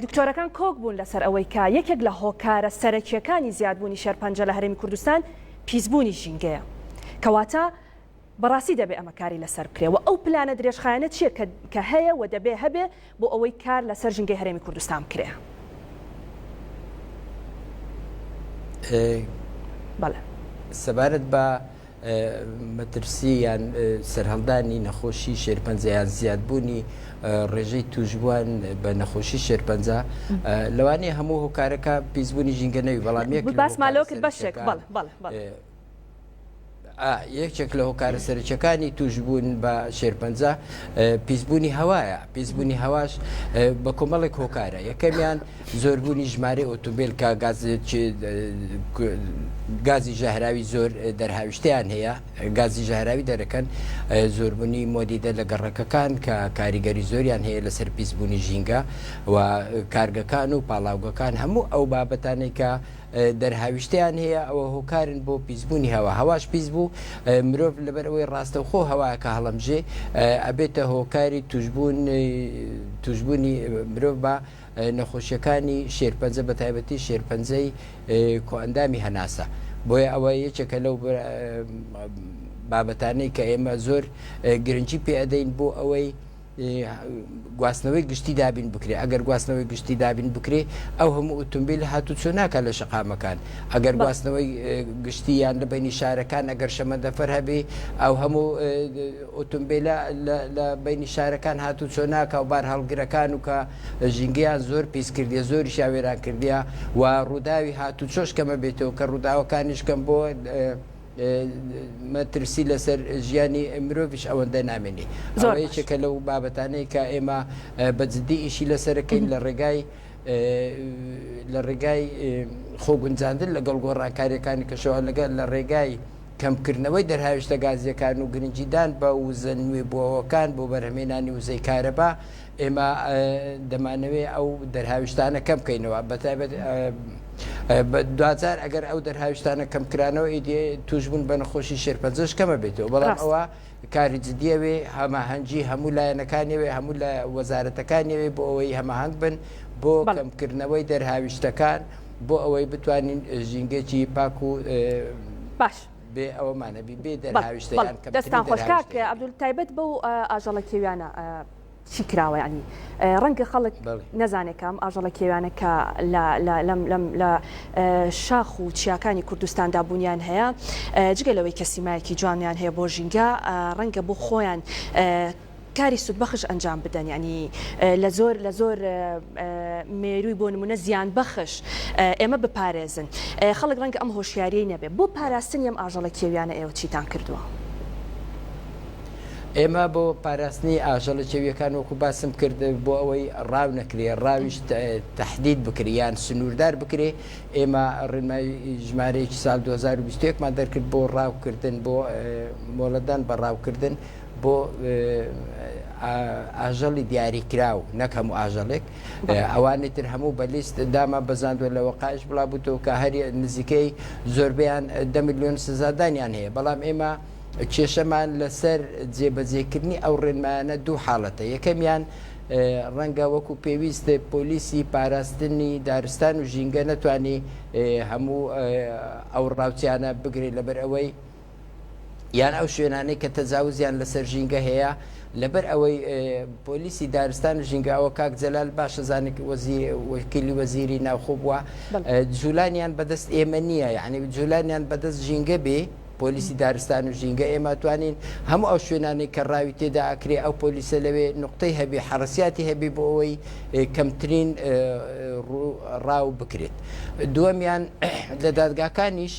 دکتۆرەکان کۆک بوون لەسەر ئەوەی کە یەکێک لە هۆکارە سەرەکیەکانی زیادبوونی شێرپەنجە لە هەرێمی کوردستان پیسبوونی ژینگەیە کەواتە بەڕاستی دەبێ ئەمە کاری لەسەر بکرێ و ئەو پلانە درێژخایەنە چییە کە کە هەیە و دەبێ هەبێ بۆ ئەوەی کار لەسەر ژینگەی هەرێمی کوردستان بکرێ؟ بەڵێ. سەبارەت بە مەترسی یان سەرهەڵدانی نەخۆشی شێرپەنجە یان زیادبوونی ڕێژەی تووشبووان بە نەخۆشی شێرپەنجە لەوانەیە هەموو هۆکارەکە پیسبوونی ژینگە نەوی بەڵام یەک ب- باسمان لەوە کرد بەشێک بەڵێ بەڵێ بەڵێ. ئا یەکێک لە هۆکارە سەرەکیەکانی توشبوون بە شێرپەنجە پیسبوونی هەوایە پیسبوونی هەواش بە کۆمەڵێک هۆکارە یەکەمیان زۆربوونی ژمارە ئۆتوبیل کە گاز گازی ژەهراوی زۆر دەرهاویشتیان هەیە گازی ژەهراوی دەرەکەن زۆربوونی مۆدیدە لە گەڕەکەکان کە کاریگەری زۆریان هەیە لەسەر پیسبوونی ژینگە و کارگەکان و پاڵاوگەکان هەموو ئەو بابەتانێکە دەرهاویشتیان هەیە ئەوە هۆکارن بۆ پیسبوونی هەوا هەواش پیس بوو مرۆڤ لەبەر ئەوەی ڕاستەوخۆ هەواکە هەڵەمژێ ئەبێتە هۆکاری توشبوون توشبوونی مرۆڤ بە نەخۆشیەکانی شێرپەنجە بە تایبەتی شێرپەنجەی کۆئەندامی هەناسە بۆیە ئەوە یەکێکە لەو بابەتانەی کە ئێمە زۆر گرنگی پێ ئەدەین بۆ ئەوەی گواستنەوەی گشتی دابین بکرێ ئەگەر گواستنەوەی گشتی دابین بکرێ ئەو هەموو ئۆتۆمبیل هاتو چۆ ناکە لە شقامەکان ئەگەر گواستنەوەی گشتی یان لە بینی شارەکان ئەگەر شەمەندەفەر هەبێ ئەو هەموو ئۆتۆمبیلە لە بینی شارەکان هاتو چۆ ناکە و بار هەڵگرەکان و کە ژینگەیان زۆر پیس کردی زۆری شاوێران کردیا و ڕووداوی هاتو چۆش کەمە بێتەوە کە ڕووداوەکانیش کەم بۆ مەترسی لەسەر ژیانی مرۆڤش ئەوەندە نامێنی زۆر یەکێکە لەو بابەتانەی کە ئێمە بە جددی ئیشی لەسەرەکەین لە ڕێگای لە ڕێگای خۆگونجاندن لەگەڵ گۆڕانکاریەکانی کەشەوە لەگەل لە ڕێگای کەمکردنەوەی دەرهاویشتە گازیەکان و گرنجیدان بە وزە نوێ بووەوەکان بۆ بەرهمێنانی وزەی کارەبا ئێمە دەمانەوێت ئەو دەرهاویشتانە کەم بکەینەوە بەتایبەت دوجار ئەگەر ئەو دەرهاویشتانە کەمکرانەوە ئیدی توشبوون بە نەخۆشی شێرپەنجەش کەمە بێتەوە بەڵام ئەوە کاری جددیەوێ هەماهەنگی هەموو لایەنەکانیەوەی هەموو لە وەزارەتەکانیەوەی بۆ ئەوەی هەماهنگ بن بۆ کەمکردنەوەی دەرهاویشتەکان بۆ ئەوەی بتوانین ژینگەکی پاک و باش. بێ ئەوەمانەبی بێ دەرهاویشتیان دەستان خۆشکاک عبدول تایبەت بەو ئاژەڵە کێویانە چی کراوە یانی ڕەنگە خەڵک نەزانێت کام ئاژەڵە کێویانە کە لە شاخ و چیاکانی کوردستاندا بوونیان هەیە جگە لەوەی کە سیمایەکی جوانیان هەیە بۆ ژینگە ڕەنگە بۆ خۆیان کاری سوودبەخش ئەنجام بدەن ینی لە زۆر لە زۆر مێروی بۆ نمونە زیان بەخش ئێمە بپارێزن خەڵک ڕەنگە ئەم هۆشیاریی نەبێ بۆ پاراستن ئەم ئاژەڵە کێویانە ئێوە چیتان کردووە ئێمە بۆ پاراستنی ئاژەڵە چێویەکان وەکو باسم کرد بۆ ئەوەی ڕاو نەکرێ ڕاویش تهدید بکریان سنووردار بکرێ ئێمە ڕێنمای ژمارەیەکی سال 2021مان دەرکرد بۆ ڕاوکردن بۆ مۆڵەدان بە ڕاوکردن بۆ ئاژەڵی دیاریکراو نەک هەموو ئاژەڵێک ئەوانی تر هەموو بە لیست دامان بەزاندوە لەوە قاش بڵا بووتەوە کە هەر نزیکەی زۆربیان دە میلیۆن سزادانیان هەیە بەڵام ئێمە کێشەمان لەسەر جێبەجێکردنی ئەو ڕێنمایانە دوو حاڵەتە یەکەمیان ڕەنگە وەکو پێویست پۆلیسی پاراستنی دارستان و ژینگە نەتوانی هەموو ئەو ڕاوچیانە بگرێ لەبەر ئەوەی یان ئەو شوێنانەی کە تەجاوزیان لەسەر ژینگە هەیە لەبەر ئەوەی پۆلیسی دارستان و ژینگە ئەوە کاک جەلال باشە زانک وەکیلی وەزیری ناوخۆ بووە جولانیان بەدەست ئێمە نییە یعنی جولانیان بەدەست ژینگە بێ پۆلیسی دارستان و ژینگە ئێمە توانین هەموو ئەو شوێنانەی کە ڕاوی تێدا ئەکرێ ئەو پۆلیسە لەوێ نوقتەی هەبی حەڕسیاتی هەبی بۆ ئەوەی کەمترین ڕاو بکرێت دووەمیان لە دادگاکانیش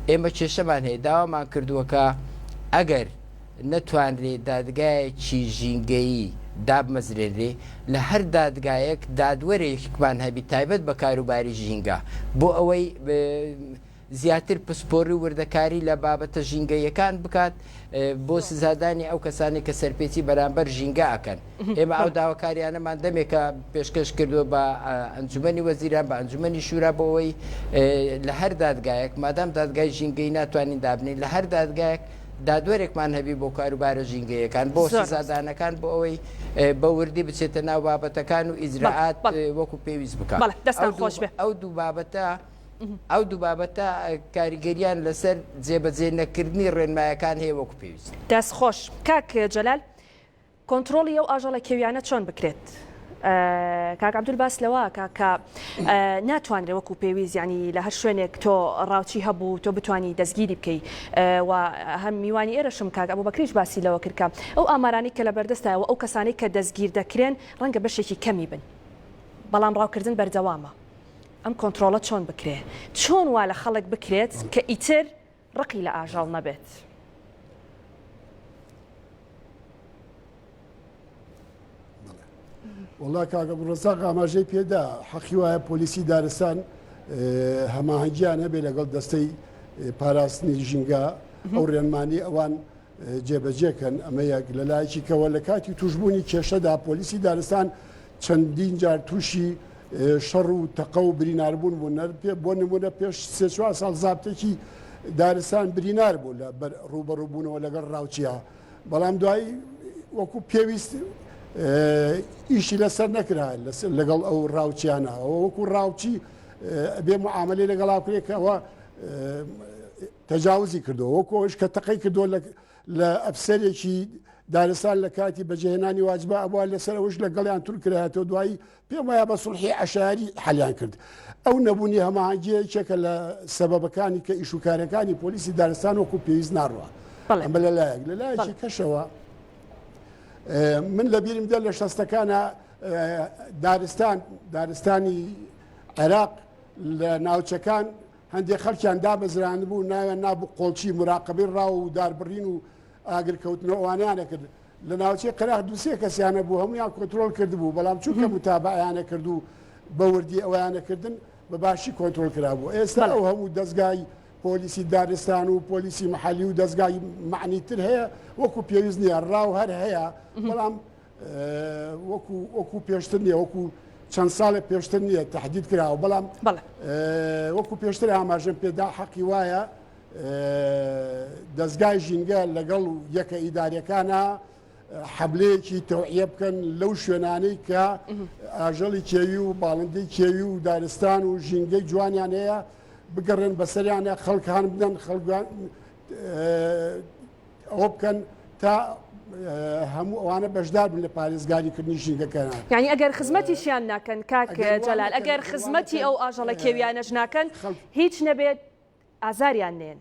ئێمە کێشەمان هەیە داوامان کردووەکە ئەگەر نەتوانرێ دادگایەکی ژینگەیی دابمەزرێنرێ لە هەر دادگایەک دادوەرێکمان هەبی تایبەت بە کاروباری ژینگە بۆ ئەوەی زیاتر پسپۆڕی و وردەکاری لە بابەتە ژینگەییەکان بکات بۆ سزادانی ئەو کەسانەی کە سەرپێچی بەرامبەر ژینگە ئەکەن. ئێمە ئەو داواکاریانەمان دەمێکە پێشکەش کردووە بە ئەنجومەنی وەزیران، بە ئەنجومەنی شورا بۆ ئەوەی لە هەر دادگایەک، مادام دادگای ژینگەیی ناتوانین دابنێین، لە هەر دادگایەک دادوەرێکمان هەبی بۆ کاروبارە ژینگەییەکان، بۆ سزادانەکان بۆ ئەوەی بە وردی بچێتە ناو بابەتەکان و ئیجرائات وەکو پێویست بکات. ئەو دوو بابەتە. ئەو دوو بابەتە کاریگەریان لەسەر جێبەجێ نەکردنی ڕێنمایەکان هەیە وەکو پێویست. دەست خۆش کاک جەلال کۆنتڕۆڵی ئەو ئاژەڵە کێویانە چۆن بکرێت؟ کاک عەبدول باس لەوەکە کە ناتوانرێ وەکو پێویست ینی لە هەر شوێنێک تۆ ڕاوچی هەبوو تۆ بتانی دەستگیری بکەی و هەم میوانی ئێرەشم کاک ئەبوو بەکریش باسی لەوە کرد کە ئەو ئامارانی کە لە بەردەستایەوە ئەو کەسانی کە دەستگیر دەکرێن ڕەنگە بەشێکی کەمی بن بەڵام ڕاوکردن بەردەوامە ئەم کۆنترۆڵە چۆن بکرێت؟ چۆن وا لە خەڵک بکرێت کە ئیتر ڕقی لە ئاژەڵ نەبێت؟ وڵا کاگە بڕۆزاق ئاماژەی پێدا حەقی وایە پۆلیسی دارستان هەماهنگگییان هەبێ لەگەڵ دەستەی پاراستنی ژینگە ئەو ڕێنمانی ئەوان جێبەجێ کەن، ئەمە یەک، لە لایەکی کەوە لە کاتی تووشبوونی کێشەدا پۆلیسی دارستان چەندین جار تووشی شەڕ و تەقە و بریناربوون بوون، بۆ نموونە پێش سێ چوار ساڵ زابتێکی دارستان برینار بوو لە بەر ڕووبەڕووبوونەوە لەگەڵ ڕاوچیا، بەڵام دوایی وەکو پێویست ئیشی لەسەر نەکرا لەگەڵ ئەو ڕاوچیانە ئەوە وەکو ڕاوچی ئەبێ معاملەی لەگەڵا بکرێت کە ئەوە تەجاوزی کردووە، وەکو ئەوەیش کە تەقەی کردووە لە لە ئەفسەرێکی دارستان لە کاتی بەجێهێنانی واجبە ئەبووە، لەسەر ئەوەش لەگەڵیان تول کرایەتەوە، دوایی پێم وایە بە سوڵحی عەشایەری حەلیان کرد. ئەو نەبوونی هەماهەنگییە یەکێکە لە سەبەبەکانی کە ئیش و کارەکانی پۆلیسی دارستان وەکو پێویست ناڕوا. بەڵێ. ئەمە لە لایەک، لە لایەکی بەڵێ. کەشەوە ئێ، من لە بیرم دێ لە شەستەکانا ئێ، دارستان، دارستانی عێراق لە ناوچەکان هەندێک خەڵکیان دامەزرانبوو ناویان نابوو قۆڵچی موراقەبەی ڕاو و داربڕین و ئاگرکەوتنەوە ئەوانەیان ئەکرد لە ناوچەی قەراخ دوو سێ کەسیان هەبوو هەموویان کۆنترۆڵ کردبوو بەڵام چونکە موتابەعەیان ئەکرد و بە وردی ئەویان ئەکردن بە باشی کۆنترۆڵ کرابوو ئێستا ئەو هەموو دەزگای پۆلیسی دارستان و پۆلیسی محەلی و دەزگای معنی تر هەیە وەکو پێویست نییە ڕاو هەر هەیە بەڵام وەکو وەکو پێشتر نیە وەکو چەند ساڵێک پێشتر نییە تهدید کراوە بەڵام وەکو پێشتر ئاماژەم پێدا حەقی وایە دەستگای ژینگە لەگەڵ یەکە ئیدارەکانە حەبلەیەکی تەوعە بکەن لەو شوێنانەی کە ئاژەڵی کێوی و باڵندی کێوی و دارستان و ژینگەی جوانیان هەیە بگەڕێن بەسەریانە خەڵکان بدەن خەڵگوان ئەوە بکەن تا هەموو ئەوانە بەشدار بن لە پارێزگاری کردنی ژینگەکەیان یعنی ئەگەر خزمەتیشیان ناکەن کاک ئەگەر وا جەلال نەکەن، ئەگەر ئەگەر وا خزمەتی نەکەن، ئەو ئاژەڵە ئە، کێویانەش ناکەن خەڵک هیچ نەبێت ئازاریان نێن.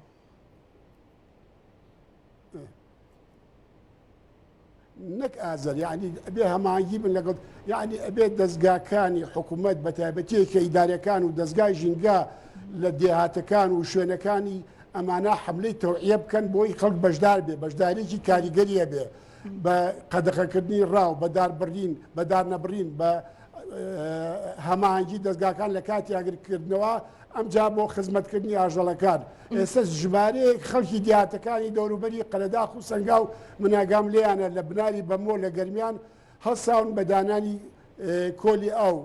نەک ئازەر یعنی ئەبێ هەماهەنگی بن لەگەڵ یعنی ئەبێت دەستگاکانی حکوومەت بە تایبەتیەکە ئیدارەکان و دەستگای ژینگە لە دێهاتەکان و شوێنەکانی ئەمانە حملەی تەوعە بکەن بۆی خەڵک بەشدار بێ بەشدارێکی کاریگەریە بێ بە قەدەخەکردنی ڕاو بەدار بڕین بەدار نەبڕین بە هەماهنگگی دەستگاکان لە کاتی ئاگرکردنەوە ئەمجا بۆ خزمەتکردنی ئاژەڵەکان. ئێستا ژمارەیەک خەڵکی دیاتەکانی دەوروبەری قەرەداخ و سەنگاو مناگام لێیانە لە بناری بەمۆ لە گەرمیان هەڵساون بە دانانی کۆلی ئاو.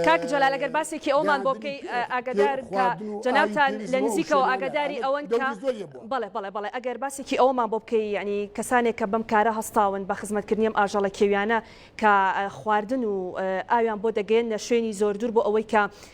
کاک جەلال ئەگەر باسێکی ئەومان بۆ بکەی ئاگادار کە جەنابتان لە نزیکەوە ئاگاداری ئەوەن کە بەڵێ بەڵێ بەڵێ ئەگەر باسێکی ئەوەمان بۆ بکەی یعنی کەسانێک کە بەم کارە هەستاون بە خزمەتکردنی ئەم ئاژەڵە کێویانە کە خواردن و ئاویان بۆ دەگەیەننە شوێنی زۆر دوور بۆ ئەوەی کە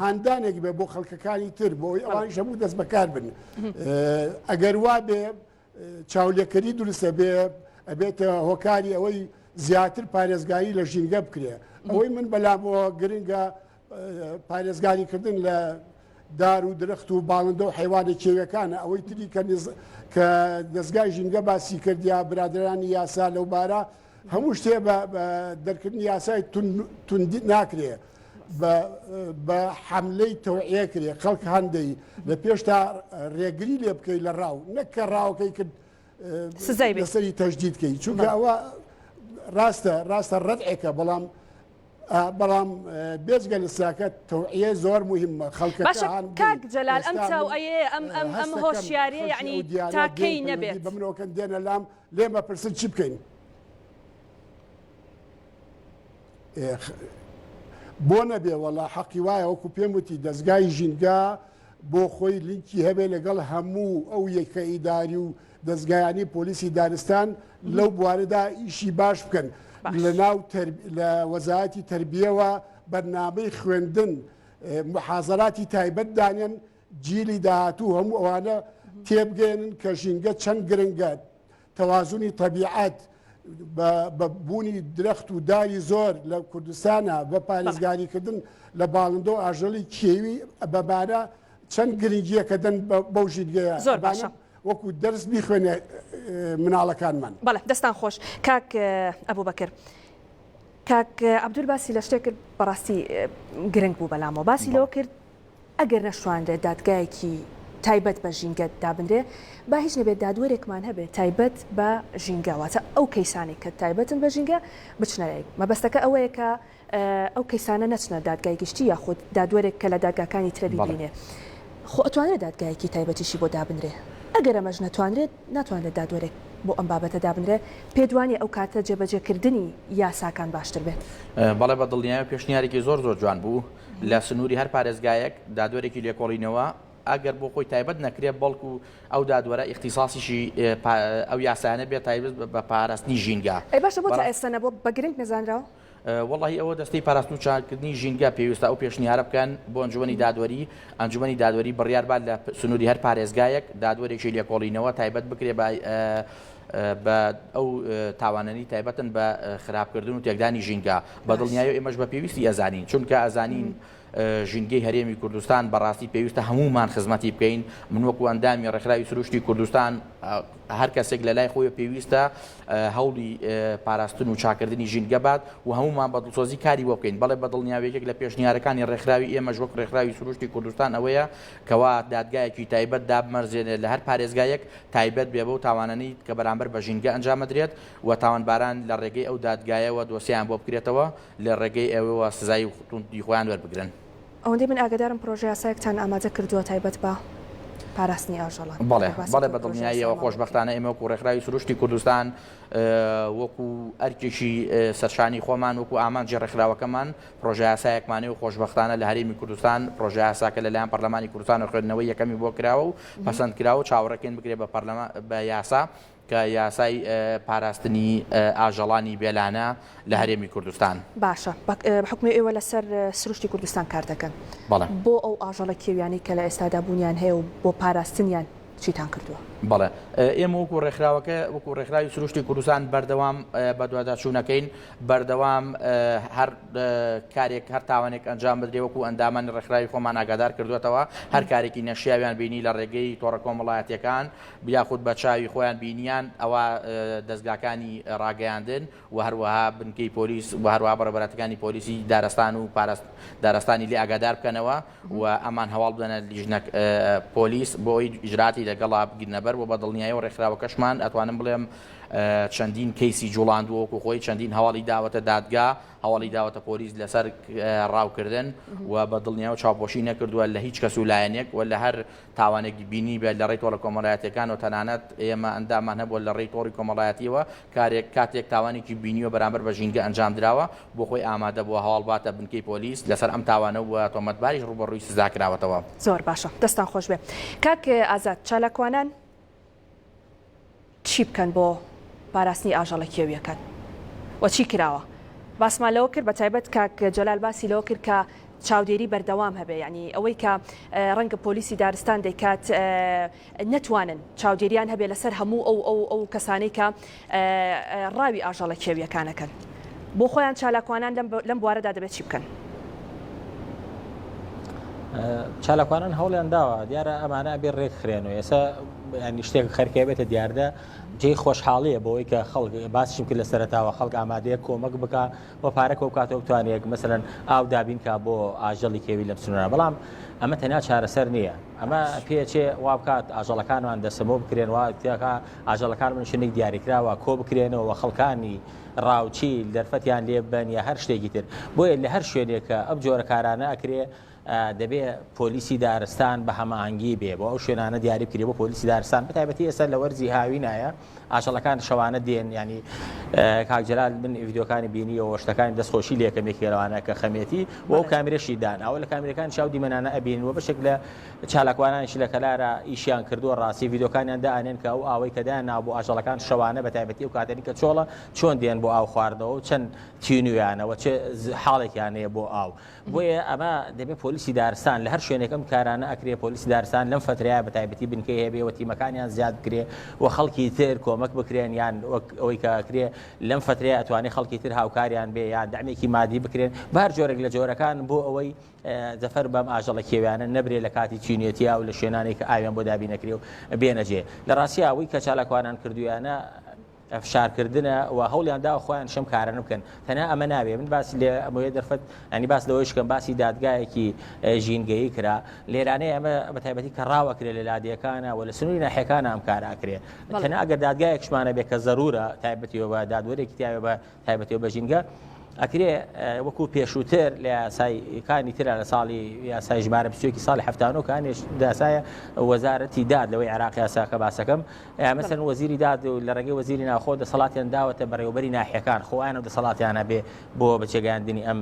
هاندانێک بێ بۆ خەڵکەکانی تر بۆ ئەوەی ئەوانیش هەموو دەست بەکار بن ئەگەر وا بێ چاولێکەری دروستە بێ ئەبێتە هۆکاری ئەوەی زیاتر پارێزگاری لە ژینگە بکرێ ئەوەی من بەلامەوە گرنگە پارێزگاری کردن لە دار و درخت و باڵندە و حیوانە کێوەکانە ئەوەی تری کە کە دەستگای ژینگە باسی کردیا برادرانی یاسا لەو بارە هەموو شتێ بە دەرکردنی یاسای توندی ناکرێ بە حملەی تەوعە کرێ خەڵک هەندەی لە پێشتا ڕێگری لێ بکەیت لە ڕاو نەکە ڕاوکەی کرد سزای لەسەری تەجدید بکەیت چونکە ئەوە ڕاستە ڕاستە ڕەتێکە بەڵام بەڵام بێزگە لە ساکە تەوعە زۆر مهمە خەڵکە کاک جەلال ئەم چاو ئەم ئەم ئەم هۆشیارە یعنی تاکەی نەبێت بمرۆکەن دێنە لام لێم ئەپرسن چی بکەین؟ بۆ نەبێ وەڵا حەقی وایە وەکو پێم وتی دەستگای ژینگە بۆ خۆی لینکی هەبێ لەگەڵ هەموو ئەو یەکە ئیداری و دەستگایانی پۆلیسی دارستان لەو بوارەدا ئیشی باش بکەن لە ناو لە وەزایەتی تربیەوە بەرنامەی خوێندن محازراتی تایبەت دانێن جیلی داهاتوو هەموو ئەوانە تێبگەیەنن کە ژینگە چەند گرنگە تەوازنی تەبیعەت بە بوونی درەخت و داوی زۆر لە کوردستانە بە پارێزگاریکردن لە باڵندۆ ئاژەڵی کێوی بەبارە چەند گرنگیە کە دەن بەو ژیرگەیە زۆر باشە وەکو دەرس بیخوێنێ مناڵەکانمان بەڵێ دەستان خۆش کاک ئەبوو بەکرد. کاک عبدول باسی لە شتێک کرد بەڕاستی گرنگ بوو بەلامەوە باسی لەوە کرد ئەگەر نەشتوانرێت دادگایەکی تایبەت بە ژینگە دابنرێ، با هیچ نەبێت دادوەرێکمان هەبێ تایبەت بە ژینگە، واتە ئەو کەیسانەی کە تایبەتن بە ژینگە بچنە لای، مەبەستەکە ئەوەیە کە ئەو کەیسانە نەچنە دادگای گشتی یاخود دادوەرێک کە لە دادگاکانی ترە بیبینێ، خۆ ئەتوانرێت دادگایەکی تایبەتیشی بۆ دابنرێ، ئەگەر ئەمەش نەتوانرێت، ناتوانرێت دادوەرێک بۆ ئەم بابەتە دابنرێ، پێتوانییە ئەو کاتە جێبەجێکردنی یاساکان باشتر بێت. بەڵێ بە دڵنیایەوە پێشنیارێکی زۆر زۆر جوان بوو. لە سنووری هەر پارێزگایەک دادوەرێکی لێکۆڵینەوە ئەگەر بۆ خۆی تایبەت نەکرێت بەڵکو ئەو دادوەرە ئیختیساسیشی ئەو یاسایانە بێت تایبەت بە پاراستنی ژینگە. ئەی باشە بۆ تا ئێستا نەبووە بە گرنگ نەزانراوە؟ وەڵاهی ئەوە دەستەی پاراستن و چاککردنی ژینگە پێویستە ئەو پێشنیارە بکەن بۆ ئەنجومەنی دادوەری، ئەنجومەنی دادوەری بڕیار بات لە سنووری هەر پارێزگایەک دادوەرێکی لێکۆڵینەوە تایبەت بکرێت بە بە ئەو تاوانەنی تایبەتن بە خراپکردن و تێکدانی ژینگە بە دڵنیایی ئێمەش بە پێویستی ئەزانین چونکە ئەزانین ژینگەی هەرێمی کوردستان بەڕاستی پێویستە هەمومان خزمەتی بکەین من وەکو ئەندامی ڕێکخراوی سروشتی کوردستان هەر کەسێک لە لای خۆی پێویستە هەوڵی پاراستن و چاکردنی ژینگە بات و هەمومان بە دڵسۆزی کاری بۆ بکەین بەڵێ بە دڵنیاوێکێک لە پێشنیارەکانی ڕێکخراوی ئێمەش وەک ڕێکخراوی سروشتی کوردستان ئەوەیە کەوا دادگایەکی تایبەت دابمەرزێنێت لە هەر پارێزگایەک تایبەت بێ بەو تاوانەنی کە بەرامبەر بە ژینگە ئەنجامەدرێت و تاوانباران لە ڕێگەی ئەو دادگایەوە دۆسێیان بۆ بکرێتەوە لە ڕێگەی ئەوێوە سزای توندی خۆیان وەربگرن. ئەوەندەی من ئاگادارم پرۆژەیاسایەکتان ئامادە کردووە تایبەت بە پاراستنی ئاژەڵان. بەڵێ بەڵێ بە دڵنیاییەوە خۆشبەختانە ئێمە وەکو ڕێکخراوی سروشتی کوردستان وەکو ئەرکێکی سەرشانی خۆمان وەکو ئامانجی ڕێکخراوەکەمان، پڕۆژەیاسایەکمان هەیە و خۆشبەختانە لە هەرێمی کوردستان پڕۆژەیاساکە لەلایەن پەرلەمانی کوردستانەوە خوێندنەوەی یەکەمی بۆ کراوە و پەسەند کراوە و چاوەڕێکەین بکرێت بە پەرلەمان بە یاسا کە یاسای پاراستنی ئاژەڵانی بێلانە لە هەرێمی کوردستان باشە حکومی ئێوە لەسەر سروشتی کوردستان کار دەکەن بۆ ئەو ئاژەڵە کێویانی کە لە ئێستادا بوونیان هەیە و بۆ پاراستنیان چیتان کردووە بەڵێ ئێمە وەکو ڕێکخراوەکە وەکو ڕێکخراوی سروشتی کوردستان بەردەوام بەدواداچوونەکەین بەردەوام هەر کارێک هەر تاوانێک ئەنجام بدرێ وەکو ئەندامانی ڕێکخراوی خۆمان ئاگادار کردوێتەوە هەر کارێکی نەشیاویان بینی لە ڕێگەی تۆڕە کۆمەڵایەتەکان بیاخود بە چاوی خۆیان بینیان ئەوە دەستگاکانی ڕاگەیاندن و هەروەها بنکەی پۆلیس و هەروە بەڕێبەرەتەکانی پۆلیسی دارستان و پارست دارستانی لێ ئاگادار بکەنەوە و ئەمان هەواڵ بدەنە لیژنە پۆلیس بۆی ئیجراتی لەگەڵا بگرنەبەر و بە دڵنیایەوە ڕێکخراوەکەشمان ئەتوانم بڵێم چەندین کەیسی جوڵاندووە وەکو خۆی چەندین هەواڵی داوەتە دادگا هەواڵی داوەتە پۆلیس لەسەر ڕاوکردن و بە دڵنیاوە چاوپۆشی نەکردووە لە هیچ کەس و لایەنێک و لە هەر تاوانێکی بینی بێت لە ڕێی تۆڕە کۆمەڵایەتەکان و تەنانەت ئێمە ئەندامان هەبووە لە ڕێی تۆڕی کۆمەڵایەتیەوە کارێک کاتێک تاوانێکی بینیوە بەرامبەر بە ژینگە ئەنجام درراوە بۆ خۆی ئامادە بووە هەواڵ باتە بنکەی پۆلیس لەسەر ئەم تاوانە و تۆمەتباریش ڕوبەڕووی سزا کراوەتەوە زۆر باشە دەستان خۆش بێ کاک ئازاد چالاکوانان چی بکەن بۆ پاراستنی ئاژەڵە کێویەکان و چی کراوە؟ باسمان لەوە کرد بەتایبەت کاک جەلال باسی لەوە کرد کە چاودێری بەردەوام هەبێ یعنی ئەوەی کە ڕەنگە پۆلیسی دارستان دەیکات نەتوانن چاودێریان هەبێ لەسەر هەموو ئەو ئەو ئەو کەسانەی کە ڕاوی ئاژەڵە کێوییەکانەکەن. بۆ خۆیان چالاکوانان لەم بوارەدا دەبێت چی بکەن؟ چالاکوانان هەوڵیان داوە دیارە ئەمانە ئەبێ ڕێک خرێن و ئێستا ینی شتێک خەرکێ بێتە دیاردە جێی خۆشحاڵیە بۆی کە خەڵک باسیم کرد لە سەرتاوە خەڵک ئامادەیە کۆمەک بک و پارەکە و کاتەوە بتوانێت مثلەن ئاو دابینکە بۆ ئاژەڵی کێوی لەم سنوورە بەڵام ئەمە تەنیا چارەسەر نییە ئەمە پێچێ وا بکات ئاژەڵەکانمان دەسەمۆ بکرێن واتیەکە ئاژەڵەکان بنە شوێنێک دیاریکراوە کۆبکرێنەوە و خەڵکانی ڕاوچی دەرفەتیان لێ بدەن یا هەر شتێکی تر. بۆیە لە هەر شوێنێک کە ئەم جۆرە کارانە ئەکرێ دەبێ پۆلیسی دارستان بە هەماهەنگی بێ بۆ ئەو شوێنانە دیاری بکرێ بۆ پۆلیسی دارستان بە تایبەتی ئێستا لە وەرزی هاوینایە ئاژەڵەکان شەوانە دێن یانی کاک جەلال من ڤیدیۆکانی بینیەوە شتەکانی دەستخۆشی لێکەم یەکێ لەوانە کە خەمێتی و ئەو کامێرەشی دان ئەوە لە کامێرەکان چاو دیمەنانە ئەبین و بەشێک لە چالاکوانانیش لە کەلارا ئیشیان کردووە ڕاستی ڤیدیۆکانیان دائەنێن کە ئەو ئاوەی کە دایان ناوە بۆ ئاژەڵەکان شەوانە بە تایبەتی ئەو کاتەنی کە چۆڵە چۆن دێن بۆ ئاو خواردنەوە و چەند تینویانە و چ حاڵێکیان هەیە بۆ ئاو بۆیە ئەمە دەبێت پۆلیسی دارستان لە هەر شوێنێک ئەم کارانە ئەکرێ پۆلیسی دارستان لەم فترەیە بە تایبەتی بنکەی هەبێ و تیمەکانیان زیاد بکرێ و خەڵکی تر کۆمەک بکرێن یان وەک ئەوەی کە ئەکرێ لەم فترەیە ئەتوانێ خەڵکی تر هاوکاریان بێ یان دەمێکی مادی بکرێن بە هەر جۆرێک لە جۆرەکان بۆ ئەوەی زەفەر بەم ئاژەڵە کێویانە نەبرێ لە کاتی چینێتیا و لە شوێنانێک کە ئاویان بۆ دابین نەکرێ و بێنە جێ. لە ڕاستی ئەوەی کە چالاکوانان کردوویانە فشارکردنە و هەوڵیان داوە خۆیانیش ئەم کارانە بکەن. تەنها ئەمە نابێ. من باسی لە ئەمەوێ دەرفەت یانی باس لەوەیش بکەم باسی دادگایەکی ژینگەیی کرا. لێرانەیە ئەمە بە تایبەتی کە ڕاوە کرێ لە لادێکانە و لە سنووری ناحیەکانە ئەم کارە ئەکرێ. تەنها ئەگەر دادگایەکشمان هەبێ کە زەروورە تایبەتی بە دادوەرێکی تیا بێ بە تایبەتی و بەژینگە ئەکرێ وەکو پێشووتر لە یاسایکانی تررا لە ساڵی یاسای ژمارە بچێکی ساڵی هەفتانۆ کانێش داسایە وەزارەتی داد لەوەی عراق یاساکە باسەکەم ئەمەسەر وەزیری داد و لە ڕێگەی وەزیری ناخۆ دەسەڵاتیان داوەتە بەڕێوبەری ناحەکان خۆیان و دەسەڵاتیانە بێ بۆ بەچێگەاندنی ئەم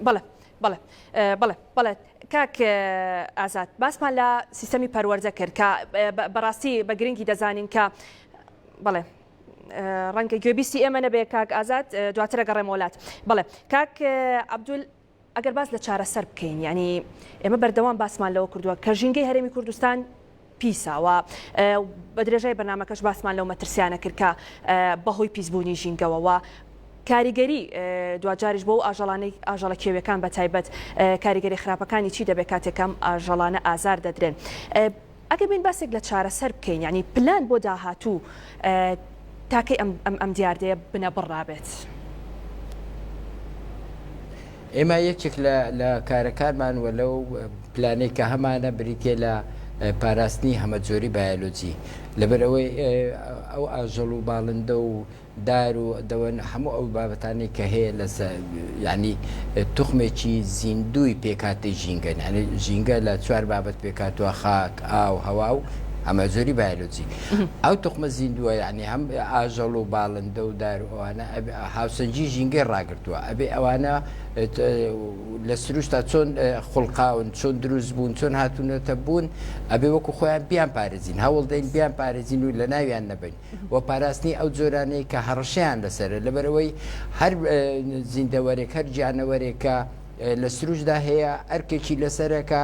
بەڵێ بەڵێ بەڵێ بەڵێت کاک ئازاد باسمان لە سیستەمی پەروەەردە کرد کە بەڕاستی بە گرنگی دەزانین کە بەڵێ ڕەنگە گوێبیستی ئێمە نەبێ کاک ئازاد دواترە گەڕێ مۆلات بڵێ کاک عبدول ئەگەر باس لە چارەسەر بکەین ینی ئێمە بەردەوام باسمان لەوە کردووە کە ژینگەی هەرێمی کوردستان پیسە و بە درێژای بەرنامەکەش باسمان لەو مەترسیانە کرد کە بە هۆی پیسبوونی ژینگەوە و کاریگەری دواجاریش بۆ و ئاژەڵانەی ئاژەڵە کێویەکان بە تایبەت کاریگەری خراپەکانی چی دەبێت کاتێکم ئاژەڵانە ئازار دەدرێن ئەگە بین باسێک لە چارەسەر بکەین ینی پلان بۆ داهاتوو تا کەی ئەم ئەم دیاردەیە بنەبڕرابێت؟ ئێمە یەکێک لە لە کارەکانمان وە لەو پلانەی کە هەمانە بریتە لە پاراستنی هەمەجۆری بایۆلۆجی لەبەرەوەی ئەو ئاژەڵ و باڵندە و دار و دەوەن هەموو ئەو بابەتانی کە هەیە لە ینی توخمێکی زیندوی پێکاتی ژینگە ینی ژینگە لە چوار بابەت پێکاتوە خاک ئاو هەوا و ئەمەجۆری بایۆلۆجی ئەو تخمە زیندووە یعنی هەم ئاژەڵ و باڵندە و دار ئەوانە هاوسەنجی ژینگەی ڕاگرتووە ئەبێ ئەوانە لە سروشتا چۆن خوڵقاون چۆن دروست بوون چۆن هاتوونەتە بوون ئەبێ وەکو خۆیان بیان پارێزین هەوڵ دەین بیان پارێزین و لە ناویان نەبین و پاراستنی ئەو جۆرانەی کە هەڕشیان لەسرە لەبەرەوەی هەر زیندەوەرێک هەر گیانەوەرێکە لە سروشدا هەیە ئەرکێکی لەسەرەکە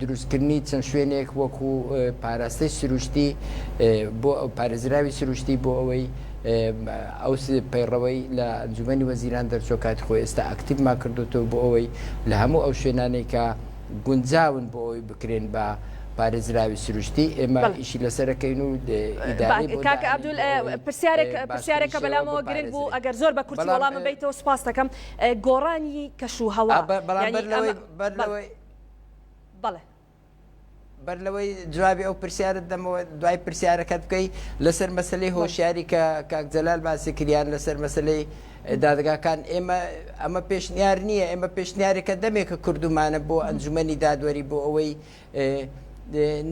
دروستکردنی چەند شوێنێک وەکو پاراستەی سروشتی بۆ ئەو پارێزراوی سروشتی بۆ ئەوەی ئەو پەیڕەوەی لە ئەنجومی وەزیران دەرچۆ کاتی خۆی ئێستا ئەکتیبما کردوتەوە بۆ ئەوەی لە هەموو ئەو شوێنانەی کە گونجاون بۆ ئەوەی بکرێن بە پارێزراوی سروشتی ئێمە ئیشی لەسەرەکەین و پرسیارێکە بەلامەوە گرنگ بوو ئەگەر زۆر بە کورتی وەڵامم بیتەوە سپاس دەکەم گۆڕانی کەش و هەوا بەر بەڵێ. بەر لەوەی جوابی ئەو پرسیارت دەمەوە دوای پرسیارەکەت بکەی لەسەر مەسلەی هۆشیاری کە کاک جەلال باسی کریان لەسەر مەسلەی دادگاکان ئێمە ئەمە پێشنیار نییە ئێمە پێشنیارێکە دەمێکە کردومانە بۆ ئەنجومنی دادوەری بۆ ئەوەی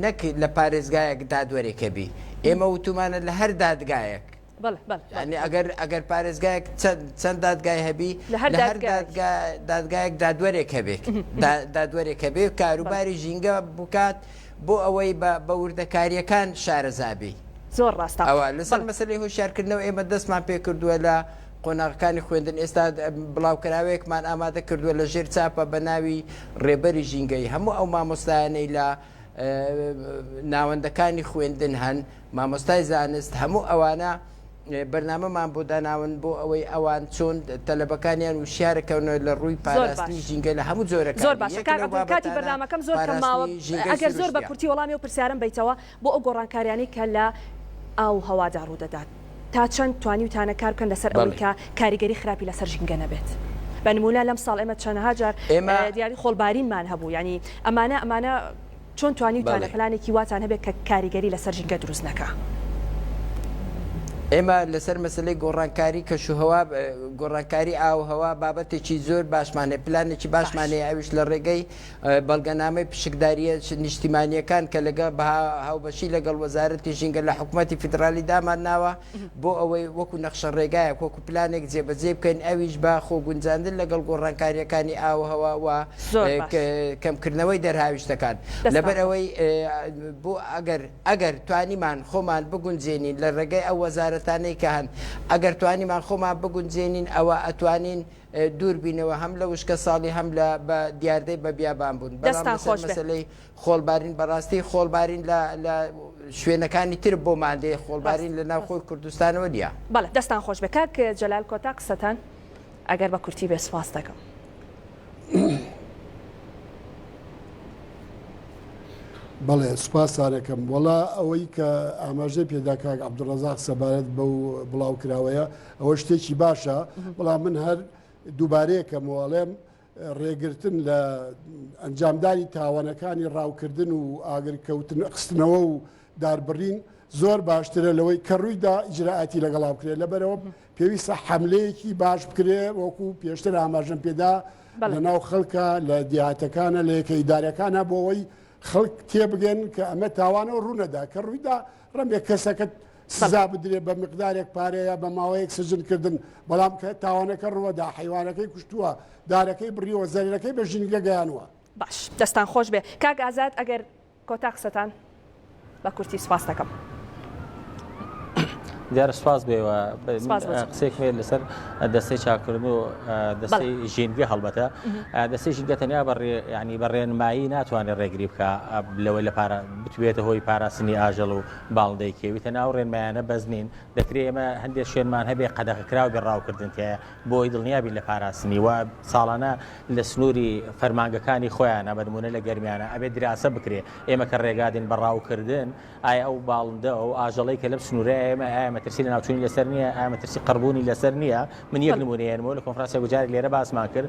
نەک لە پارێزگایەک دادوەرێکەبی ئێمە وتومانە لە هەر دادگایەک بەڵێ بەڵێ بەڵێ یانی ئەگەر ئەگەر پارێزگایەک چەند چەند دادگای هەبی لە هەر لە هەر دادگایەک. دادگا دادگایەک دادوەرێک هەبێت دا- دادوەرێک هەبێ کاروباری ژینگە بکات بۆ ئەوەی بە بە وردەکارییەکان شارەزابی زۆر ڕاستە ئەوە لەسەر بەڵێ مەسەلەی هۆشیارکردنەوە ئێمە دەستمان پێ کردووە لە قۆناغەکانی خوێندن ئێستا د- بڵاوکراوەیەکمان ئامادە کردووە لە ژێر چاپە بە ناوی ڕێبەری ژینگەی هەموو ئەو مامۆستایانەی لە اه، ناوەندەکانی خوێندن هەن مامۆستای زانست هەموو ئەوانە بەرنامەمان بۆ داناون بۆ ئەوەی ئەوان چۆن تەلەبەکانیان وشیارەکەونە لە ڕووی پاراستنی ژینگە لە هەموو جۆرەکانی یەک لەو بابەتانە پاراستنی ژینگەی سروشتیە. زۆر باشە کاک عەبدول کاتی بەرنامەکەم زۆر کەم ماوە ئەگەر زۆر بە کورتی وەڵامی ئەو پرسیارەم بەیتەوە بۆ ئەو گۆڕانکاریانەی کە لە ئاو و هەوادا ڕوو دەدات تا چەند توانیوتانە کار بکەن لەسەر ئەوەی کە کاریگەری خراپی لەسەر ژینگە نەبێت بە نموونە لەم ساڵ ئێمە چەندەها جار دیاری خۆڵبارینمان هەبوو یانی ئەمانە ئەمانە چۆن توانیوتانە پلانێکی واتان هەبێت کە کاریگەری لەسەر ژینگە دروست نەکا؟ ئێمە لەسەر مەسەلەی گۆڕانکاری کەشوهەوا، گۆڕانکاری ئاووهەوا بابەتێکی زۆر باشمان هەیە، پلانێکی باشمان هەیە ئەویش لە ڕێگەی بەڵگەنامەی پشکدارییە نیشتیمانییەکان کە لەگەڵ بە هاوبەشی لەگەڵ وەزارەتی ژینگە لە حکوومەتی فیدڕالی دامانناوە، بۆ ئەوەی وەکو نەخشە ڕێگایەک وەکو پلانێک جێبەجێی بکەین ئەویش بە خۆگونجاندن لەگەڵ گۆڕانکارییەکانی ئاووهەوا و کەمکردنەوەی دەرهاویشتەکان لەبەر ئەوەی بۆ ئەگەر ئەگەر توانیمان خۆمان بگونجێنین لە ڕێگەی ئەو وەزارەتانەی کە هەن ئەگەر توانیمان خۆمان بگونجێنین ئەوە ئەتوانین دووربینەوە هەم لە وشکە ساڵی هەم لە بە دیاردەی بە بیابان بوون بەڵام لەسەر مەسەلەی خۆڵبارین بەڕاستی خۆڵبارین لە لە شوێنەکانی تر بۆ مادەیە خۆڵبارین لە ناوخۆی کوردستانەوە نیە. بەڵێ دەستان خۆش بێ کاک جەلال کۆتا قسەتان ئەگەر بە کورتی بێ سوپاس دەکەم. بەڵێ سوپاستانەکەم وەڵا ئەوەی کە ئاماژەی پێدا کاک عبدڕزاق سەبارەت بەو بڵاو کراوەیە ئەوە شتێکی باشە بەڵام من هەر دووبارەیەکەم وڵێم ڕێگرتن لە ئەنجامدانی تاوانەکانی ڕاوکردن و ئاگرکەوتن خستنەوە و داربڕین زۆر باشترە لەوەی کە ڕوویدا ئیجرراعاتی لەگەڵا بکرێت لەبەرەوە پێویستە حملەیەکی باش بکرێ وەکو پێشتر ئاماژەم پێدا لە ناو خەڵکە لە دیاتەکانە لە یەکە ئیدارەکانە بۆەوەی خەڵک تێبگەن کە ئەمە تاوانەوە ڕوونەدا کە ڕوویدا رەنگە کەسەکەت سزا بدرێت بە مقدارێک پارە یا بە ماوەیەک سجن کردن بەڵام کە تاوانەکە ڕوەدا حیوانەکەی کوشتووە دارەکەی بڕیوە زەرەکەی بە ژینگە گەیانوە باش دەستان خۆش بێ کاک ئازاد ئەگەر کۆتا قسەتان بە کورتی سپاس دەکەم. دیار سپاس بێەوە قسێکێ لەسەر دەستی چاکردن و دەستی ژینگە هەڵبەتە دەستی ژینگە تەنیا بەڕێ ینی بەڕێنمایی ناتوانێت ڕێگری بکە لەوەی لە پارە بتبێتە هۆی پاراستنی ئاژەڵ و باڵندەی کێوی تەناو ڕێنمایانە بەس نین دەکرێ ئێمە هەندێ شوێنمان هەبێ قەدەغە کراو بێ ڕاوکردن تیایە بۆ ئەوەی دڵنیا بین لە پاراستنی و ساڵانە لە سنووری فەرمانگەکانی خۆیانە بە نموونە لە گەرمیانە ئەبێ دراسە بکرێ ئێمە کە ڕێگا دێن بە ڕاوکردن ئایا ئەو باڵندە ئەو ئاژەڵەی کە لەم سنوورەیە ئێمە ئایا مەترسی لە ناوچوونی لەسەر نییە ئایا مەترسی قڕبوونی لەسەر نییە من یەک نموونەیەنمەوە لە کۆنفرانسێک گوجارێک لێرە باسمان کرد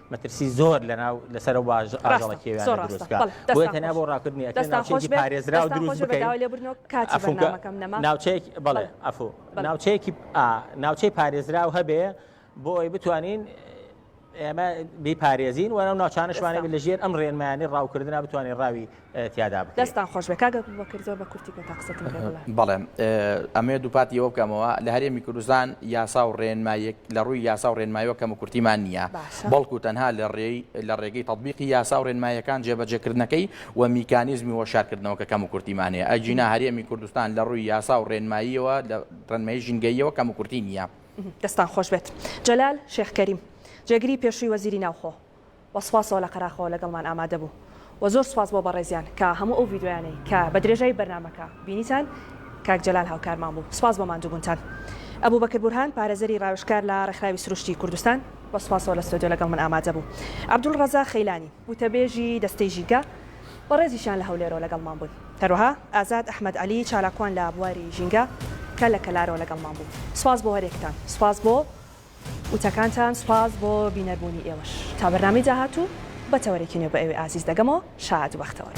مەترسی زۆر لەناو لەسەر و باژ ئاژەڵە کێویانە دروست بکە بۆیە تەنیا بۆ ڕاکردنی ئەکرێت ناوچەیەکی پارێزراو دروست بکەین ناوچەیەک بەڵێ ئەفو ناوچەیەکی ناوچەی پارێزراو هەبێ بۆ ئەوی بتوانین ئێمە بیپارێزین وەرە ناوچانشمانە لە ژێر ئەم ڕێنمایانی ڕاوکردنا بتوانین ڕاوی تیادا بکرێت. دەستتان خۆشبێت کاک ئەبوبەکر زۆر بە کورتی پێتا قسەتم پێ بڵێ. بەڵێ ئەمەوێت دووپاتی ئەوە بکەمەوە لە هەرێمی کوردستان یاسا و ڕێنماییەک لە ڕووی یاسا و ڕێنماییەوە کەم و کورتیمان نییە بەڵکو تەنها لە ڕێی لە ڕێگەی تەتبیقی یاسا و ڕێنماییەکان جێبەجێکردنەکەی و میکانیزمی وەشارکردنەوە کە کەم و کورتیمان هەیە ئەگینا هەرێمی کوردستان لە ڕووی یاسا و ڕێنماییەوە لە ڕێنمایی ژینگەییەوە کەم و کورتی نییە. دەستتان خۆشبێت. جەلال شێخ کەریم، جێگری پێشووی وەزیری ناوخۆ. وە سوپاسەوە لە قەراخەوە لەگەڵمان ئامادە بوو وە زۆر سوپاس بۆ بەڕێزیان کە هەموو ئەو ڤیدیۆیانەی کە بە درێژایی بەرنامەکە بینیتان کاک جەلال هاوکارمان بوو سوپاس بۆ ماندووبونتان ئەبوبەکر بورهان پارێزەری ڕاوێژکار لە ڕێکخراوی سروشتی کوردستان وە سوپاسەوە لە ستۆدیۆ لەگەڵ من ئامادە بوو عەبدول ڕەزا خەیلانی وتەبێژی دەستەی ژینگە بەڕێزیشیان لە هەولێرەوە لەگەڵمان بوون هەروەها ئازاد ئەحمەد عەلی چالاکوان لە بواری ژینگە کە لە کەلارەوە لەگەڵمان بوو سوپاس بۆ هەریەکتان سوپاس بۆ وتەکانتان سوپاس بۆ بینەر بوونی ئێوەش تا بەرنامەی داهاتوو بە تەوەرێکی نوێ بە ئێوەی ئازیز دەگەمەوە شاد بەختەوەر.